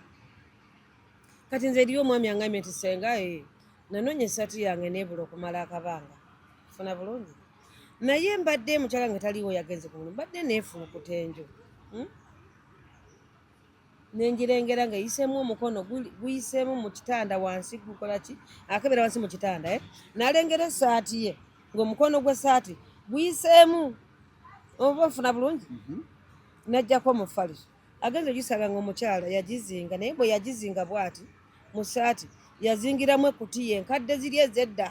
kati nze eriyo omwami angambye nti senga eh, nanoonya esaati yange nebula okumala akabanga funa bulungi naye mbadde mukyala nga taliwo yagenze ku mulimu mbadde neefulukuta enju hmm? nenjirengera nga eyiseemu omukono guyiseemu mu kitanda wansi gukola ki akebera wansi mu kitanda eh? nalengera esaati ye ngaomukono gw'esaati guyiseemu oba ofuna bulungi mhm. najjako omufaliso agenze ogisanga nga omukyala yagizinga naye bwe yagizinga bwati mu saati yazingiramu ekutiya enkadde ziri ezedda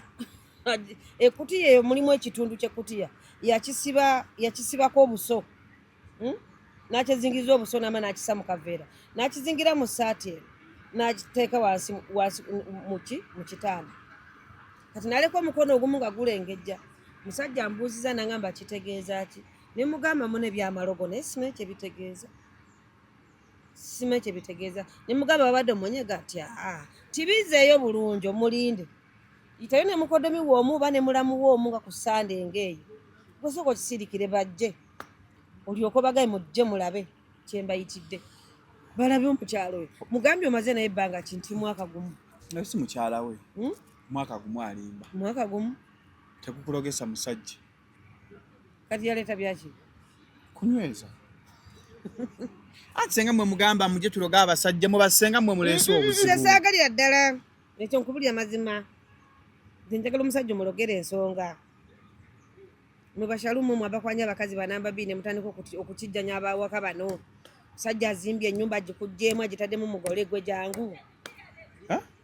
ekutiya eyo mulimu ekitundu kyekutiya yakisiba yakisibako obuso hmm? nakyezingiriza obuso nama nakisa mu kaveera nakizingira mu saati eno nakiteeka wansi muki mu kitanda kati naleka omukono ogumu nga gulengejja musajja mbuuziza nangamba kitegeeza ki ne mugamba mune byamalogo naye simanyi kyebitegeeza simanyi kyebitegeeza ne mugamba babadde omunyega ti aa tibizeeyo bulungi omulinde yitayo ne mukodomi woomu oba ne mulamu woomu nga ku sande ngaeyo gwesooka okisirikire bajje olyoka obagaye mujje mulabe kyembayitidde balabe omukyalo oyo mugambye omaze naye ebbanga kinti mwaka gumu naye si mukyala we hmm? mwaka gumu alimba mwaka gumu tekukulogesa musajja kati yaleeta byaki kunyweza ati senga mwe mugamba muje tuloga abasajja mu basenga mwe muleese mm-hmm. obuzibu nze saagalira ddala ekyo nkubulira mazima nze njagala omusajja omulogera ensonga mwe bashalumu mwe abakwanya abakazi banamba bii ne mutandika okukijjanya abawaka bano sajja azimbye ennyumba agikugyemu agitaddemu mugole gwe jangu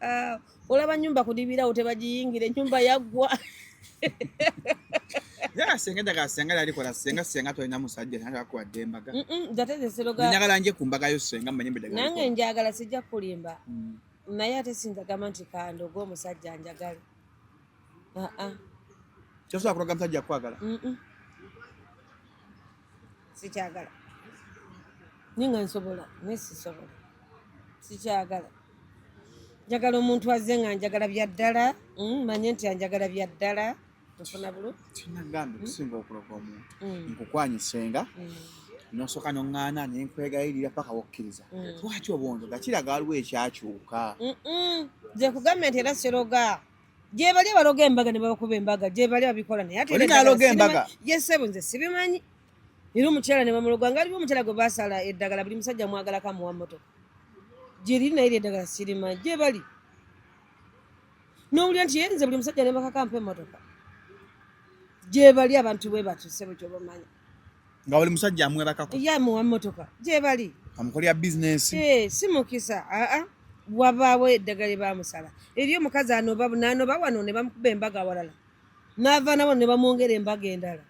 Ah, olaba nyumba kudibirawo tebagiyingira enyumba yaggwa senga njagala senga yalikola senga senga tolina musajja natakuwa dembaga njagala nje kumbagayo senga manye mbedaga nange njagala sijja kulimba mm. naye ate sinjagamba nti kandoga omusajja njagala kyosobola kulaga musajja kwagala sikyagala ninga nsobola naye sisobola sikyagala njagala omuntu azze nga njagala bya ddala mm, manye nti anjagala bya ddala nfuna bulu kinagambe kusinga okuloga omuntu mm. nkukwanyisenga mm. nosooka noŋŋaana ne nkwegayirira paka wokkiriza lwaki obwondo gakiraga waliwo ekyakyuka nze kugambe nti era siroga gyebali abaloga embaga ne babakuba embaga gyebali abikola naye ate naloga embaga yesebo nze sibimanyi era omukyala ne bamuloga nga aliwo omukyala gwe basala eddagala buli musajja mwagala kamuwa motoka gyeriri naye lyeddagala sirimanyi gyebali nowulira nti yenze buli musajja ne bakakampa emotoka gyebali abantu bwe batyo sebo kyobamanyi nga oli musajja amwebakako ye amuwa mmotoka gyebali amukolera bizinesi eh, si mukisa aa wabaawo eddagala lyebamusala eri omukazi anoba nanoba wano ne bamukuba embaga awalala naava nabo ne bamwongera embaga endala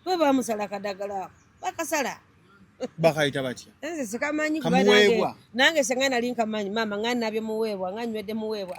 bwe bamusala akadagala ako bakasala bakayita batya nze sikamanyi kubanange nange senga nali nkamanyi maama nga nabye muweebwa nga nywedde muweebwa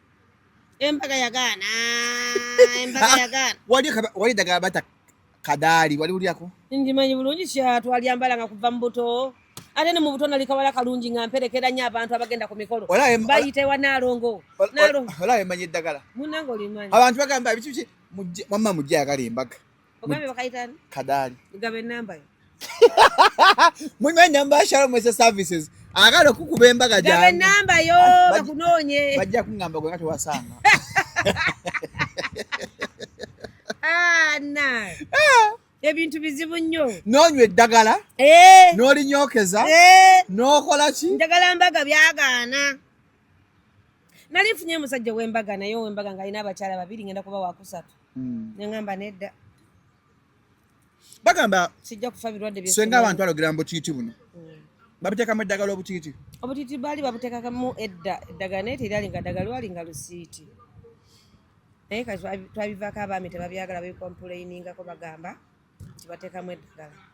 Embaga yagaana. Embaga ah, yagaana. Wali wali daga bata kadali wali uli yako. Ndi manyi bulungi sha twali ambala nga kuva mbuto. Ate ne mu buto nali kawala kalungi nga mpelekera nya abantu abagenda ku mikolo. Bayite wa nalongo. Nalongo. Ola emanyi dagala. Munango limanyi. Abantu bagamba bichi bichi mujja mama mujja yagala embaga. Ogambye bakayita ani? Kadaali. Gaba ennamba yo. Munywa ennamba ya Shalom Ese Services. Agala okukuba embaga gyange. Gaba ennamba yo bakunoonye. Bajja kungamba gwe nga tewasanga. Ah, na. Ah. ebintu bizibu nnyo nonywa eddagala eh. nolinyokeza eh. nokola ki njagala mbaga byagaana nali nfunye musajja wembaga naye owembaga nga alina abakyala babiri ngenda kuba wakusatu mm. nengamba nedda bagamba sijja kufa birwadde bye senga abantu alogera mbo kiti buno mm. babiteka mu eddagala obutiti obutiti bali babiteka mu edda eddagala naye terali nga ddagala wali nga lusiiti naye kati twabivako abaami tebabyagala bekompuleiningako bagamba tibatekamu eddagala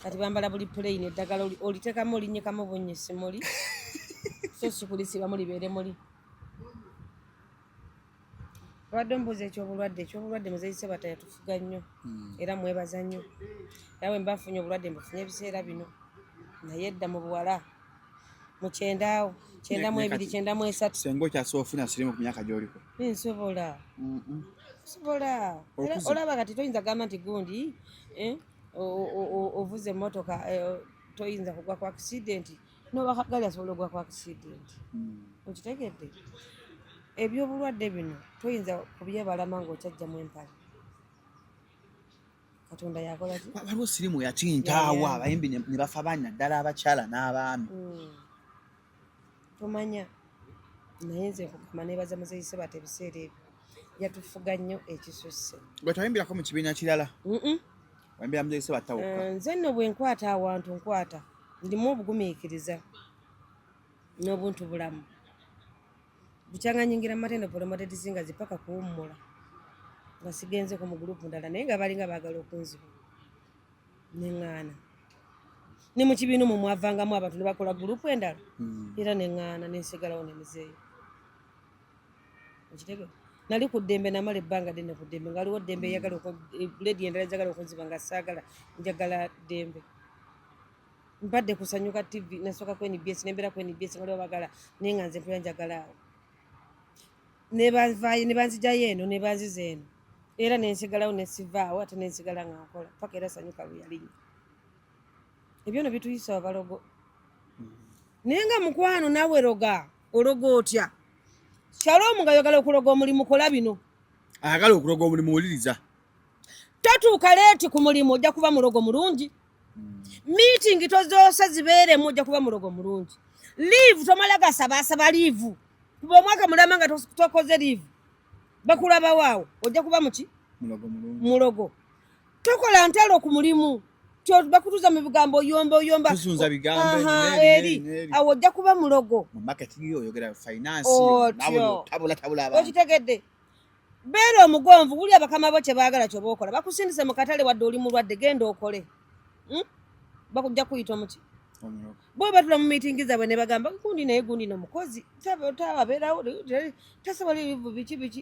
kati bambala buli puleyini eddagala olitekamu olinyikamu bunyisi muli so sikulisibamu libeere muli abadde omubuuza ekyobulwadde ekyobulwadde muzeeyi sebata yatufuga nnyo hmm. era mwebaza nnyo era bwe mbafunye obulwadde mbufunye ebiseera bino naye edda mu buwala mu kyendaawo kyendamu ebiri kyendamu esatu senga okyasobola ofuna sirimu ku myaka gyoliko nsobola nsobola olaba kati toyinza gamba nti gundi eh, ovuze emotoka eh, toyinza kugwa ku akisidenti nobakagali asobola ogwa ku accident hmm. okitegedde ebyobulwadde bino toyinza kubyebalama ngaokyajjamu empale katonda yakolaki waliwo sirimu yakintaawo abayimbi ne bafa baani naddala abakyala n'abaami hmm. tomanya naye nze nkugamba nebaza muzeyise bata ebiseera ebyo yatufuga nnyo ekisusse gwe tayimbirako mu kibiina kirala Wambira mzee seba tawuka. Eh, nze no bwe nkwata awantu nkwata ndimu obugumiikiriza n'obuntu bulamu bukyanganyingira matendo polomatetizinga zipaka kuwummula nga sigenze ku mugulupu ndala naye nga balinga baagala okunziba neŋŋaana ne mu kibiina omwo mwavangamu abantu ne bakola gulupu endala hmm. era neŋŋaana nensigalawo ne muzeeyi okitegeera nali ku ddembe namala ebbanga ddene ku ddembe nga waliwo ddembe eyagala eh, ledi endala ezagala okunziba nga saagala njagala ddembe mbadde kusanyuka tv nasooka ku nbs nembeera ku nbs nga waliwo bagala naye nga nze mpera njagala awo nebanvayo nebanzijayo eno nebanziza eno era nensigalawo nesivaawo ate nensigala nga nkola paka era sanyuka luyalinya ebyono bituyisa abalogo mm. naye nga mukwano nawe roga ologa otya shalom nga yogala okuloga omulimu kola bino ayagala okuloga omulimu wuliriza totuuka leeti ku mulimu ojja kuba mulogo mulungi miitingi tozoosa zibeeremu ojja kuba mulogo mulungi liivu tomala gasabaasaba liivu kuba omwaka mulama nga tokoze liivu bakulabawaawo ojja kuba muki mulogo tokola ntalo ku mulimu bakutuza mu bigambo oyomba oyomba eri awo ojja kuba mulogo okitegedde beera omugonvu wulya bakama bo kyebaagala kyoba okola bakusindise mu katale wadde oli mulwadde genda okole hmm? bakujja kuyita omuki bo batula mu miitingi zaabwe ne bagamba gundi naye gundi no mukozi tawabeerawo tasobola ebivu biki biki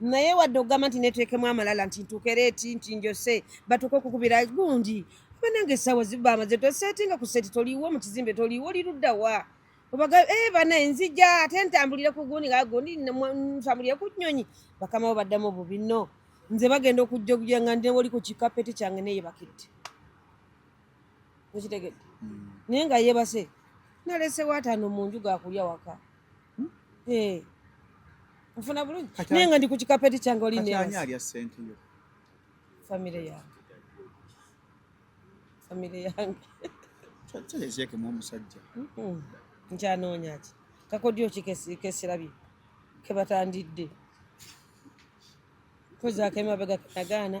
naye wadde okugamba nti neteekemu amalala nti ntukereeti nti njose batuuka okukubira gundi banange esaawa zibamaze tosetinga ku seti toliwo mu kizimbe toliwo oli luddawa obaga eh, bana enzija ate ntambulire ku gundi nga gundi ntambulire ku nyonyi bakamawo baddamu obubi no nze bagenda okujja okuja nga ndewoli ku kikapeti kyange neyebakidde okitegedde hmm. naye nga yebase nalese watano munju gakulya waka hmm? eh. nfuna bulungi naye nga ndi ku kikapeti kyange oli famire yange famire yange kyekemu omusajja hmm. nkyanoonya ki kakodyo ki kesirabye kebatandidde kozaako emabega kenagaana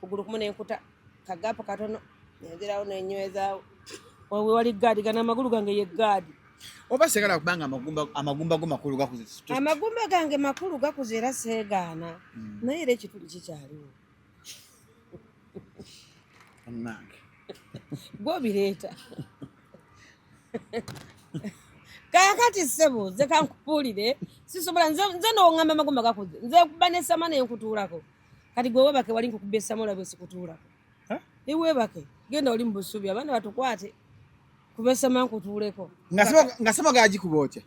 kugulu kumu nenkuta kagapu katono nenzirawo nenywezaawo wewali gaadi gana amagulu gange ye gaadi oba segala kubanga amagumba amagumba go makulu gakuze amagumba gange makulu gakuze era segaana hmm. naye era ekituli kikyaliwo anange gwobireeta kakati ssebo nze kankubuulire sisobola nze nongamba amagumba gakuze nze kuba nesama nenkutuulako kati gwe webake wali nkukubye samola bwe sikutuulako ni webake genda oli mu busubi abaana batukwate kubesama nkutuuleko nga sama gagikuba otya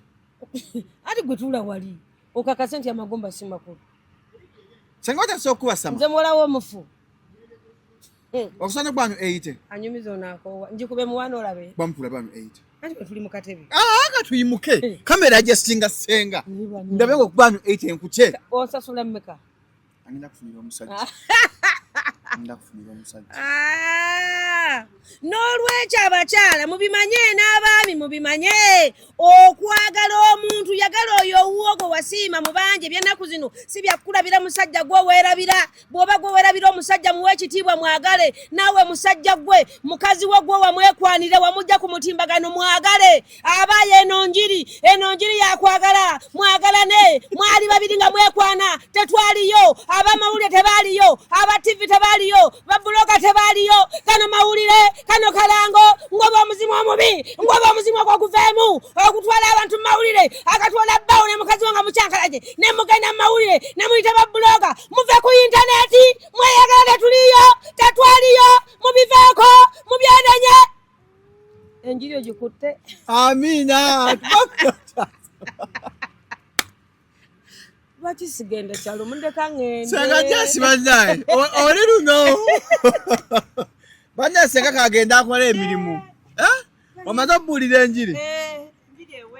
ati gwe tuula wali okakase nti amagomba si makulu senga otasa okukuba sama nze muwalawo omufu hmm. okusana gwanyu eyite anyumiza onakowa njikube muwana olabe bamukula banu eyite tuli mukatebe ah, nga tuyimuke kamera ajasinga senga ndabe nga okubanyu 8 enkukye osasula mmeka Angenda kufunira omusajja. Angenda kufunira omusajja. Ah! N'olwekyo abakyala mubimanye n'abaami mubimanye okwagala omuntu yagala oyo owuwo gwe wasiima mu bangi ebyennaku zino si byakukulabira musajja gwe weerabira bw'oba gwe weerabira omusajja muwe ekitiibwa mwagale naawe musajja gwe mukazi wo gwe wamwekwanire wamujja ku mutimbagano mwagale abaye eno njiri eno njiri yakwagala mwagalane mwali babiri nga mwekwana tetwaliyo abamawulire tebaliyo aba tivi tebaliyo babuloka tebaliyo kano mawulire kano kalango ngoba omuzimu omubi ngoba omuzimu ogwoguveemu okutwala abantu mumawulire akatwala bbawo ne mukazi wanga mukyankalaje ne mugenda mumawulire ne muyita babuloka muve ku intaneti mweyagala tetuliyo tetwaliyo mubiveeko mubyenenye Enjiri ogikutte. Amiina. Lwaki sigenda kyalo mundeka ngende. Senga jasi bandaye. Oli luno. Bandaye senga kagenda akola emirimu. Eh? Omaze obuulira enjiri. Eh, enjiri ewedde.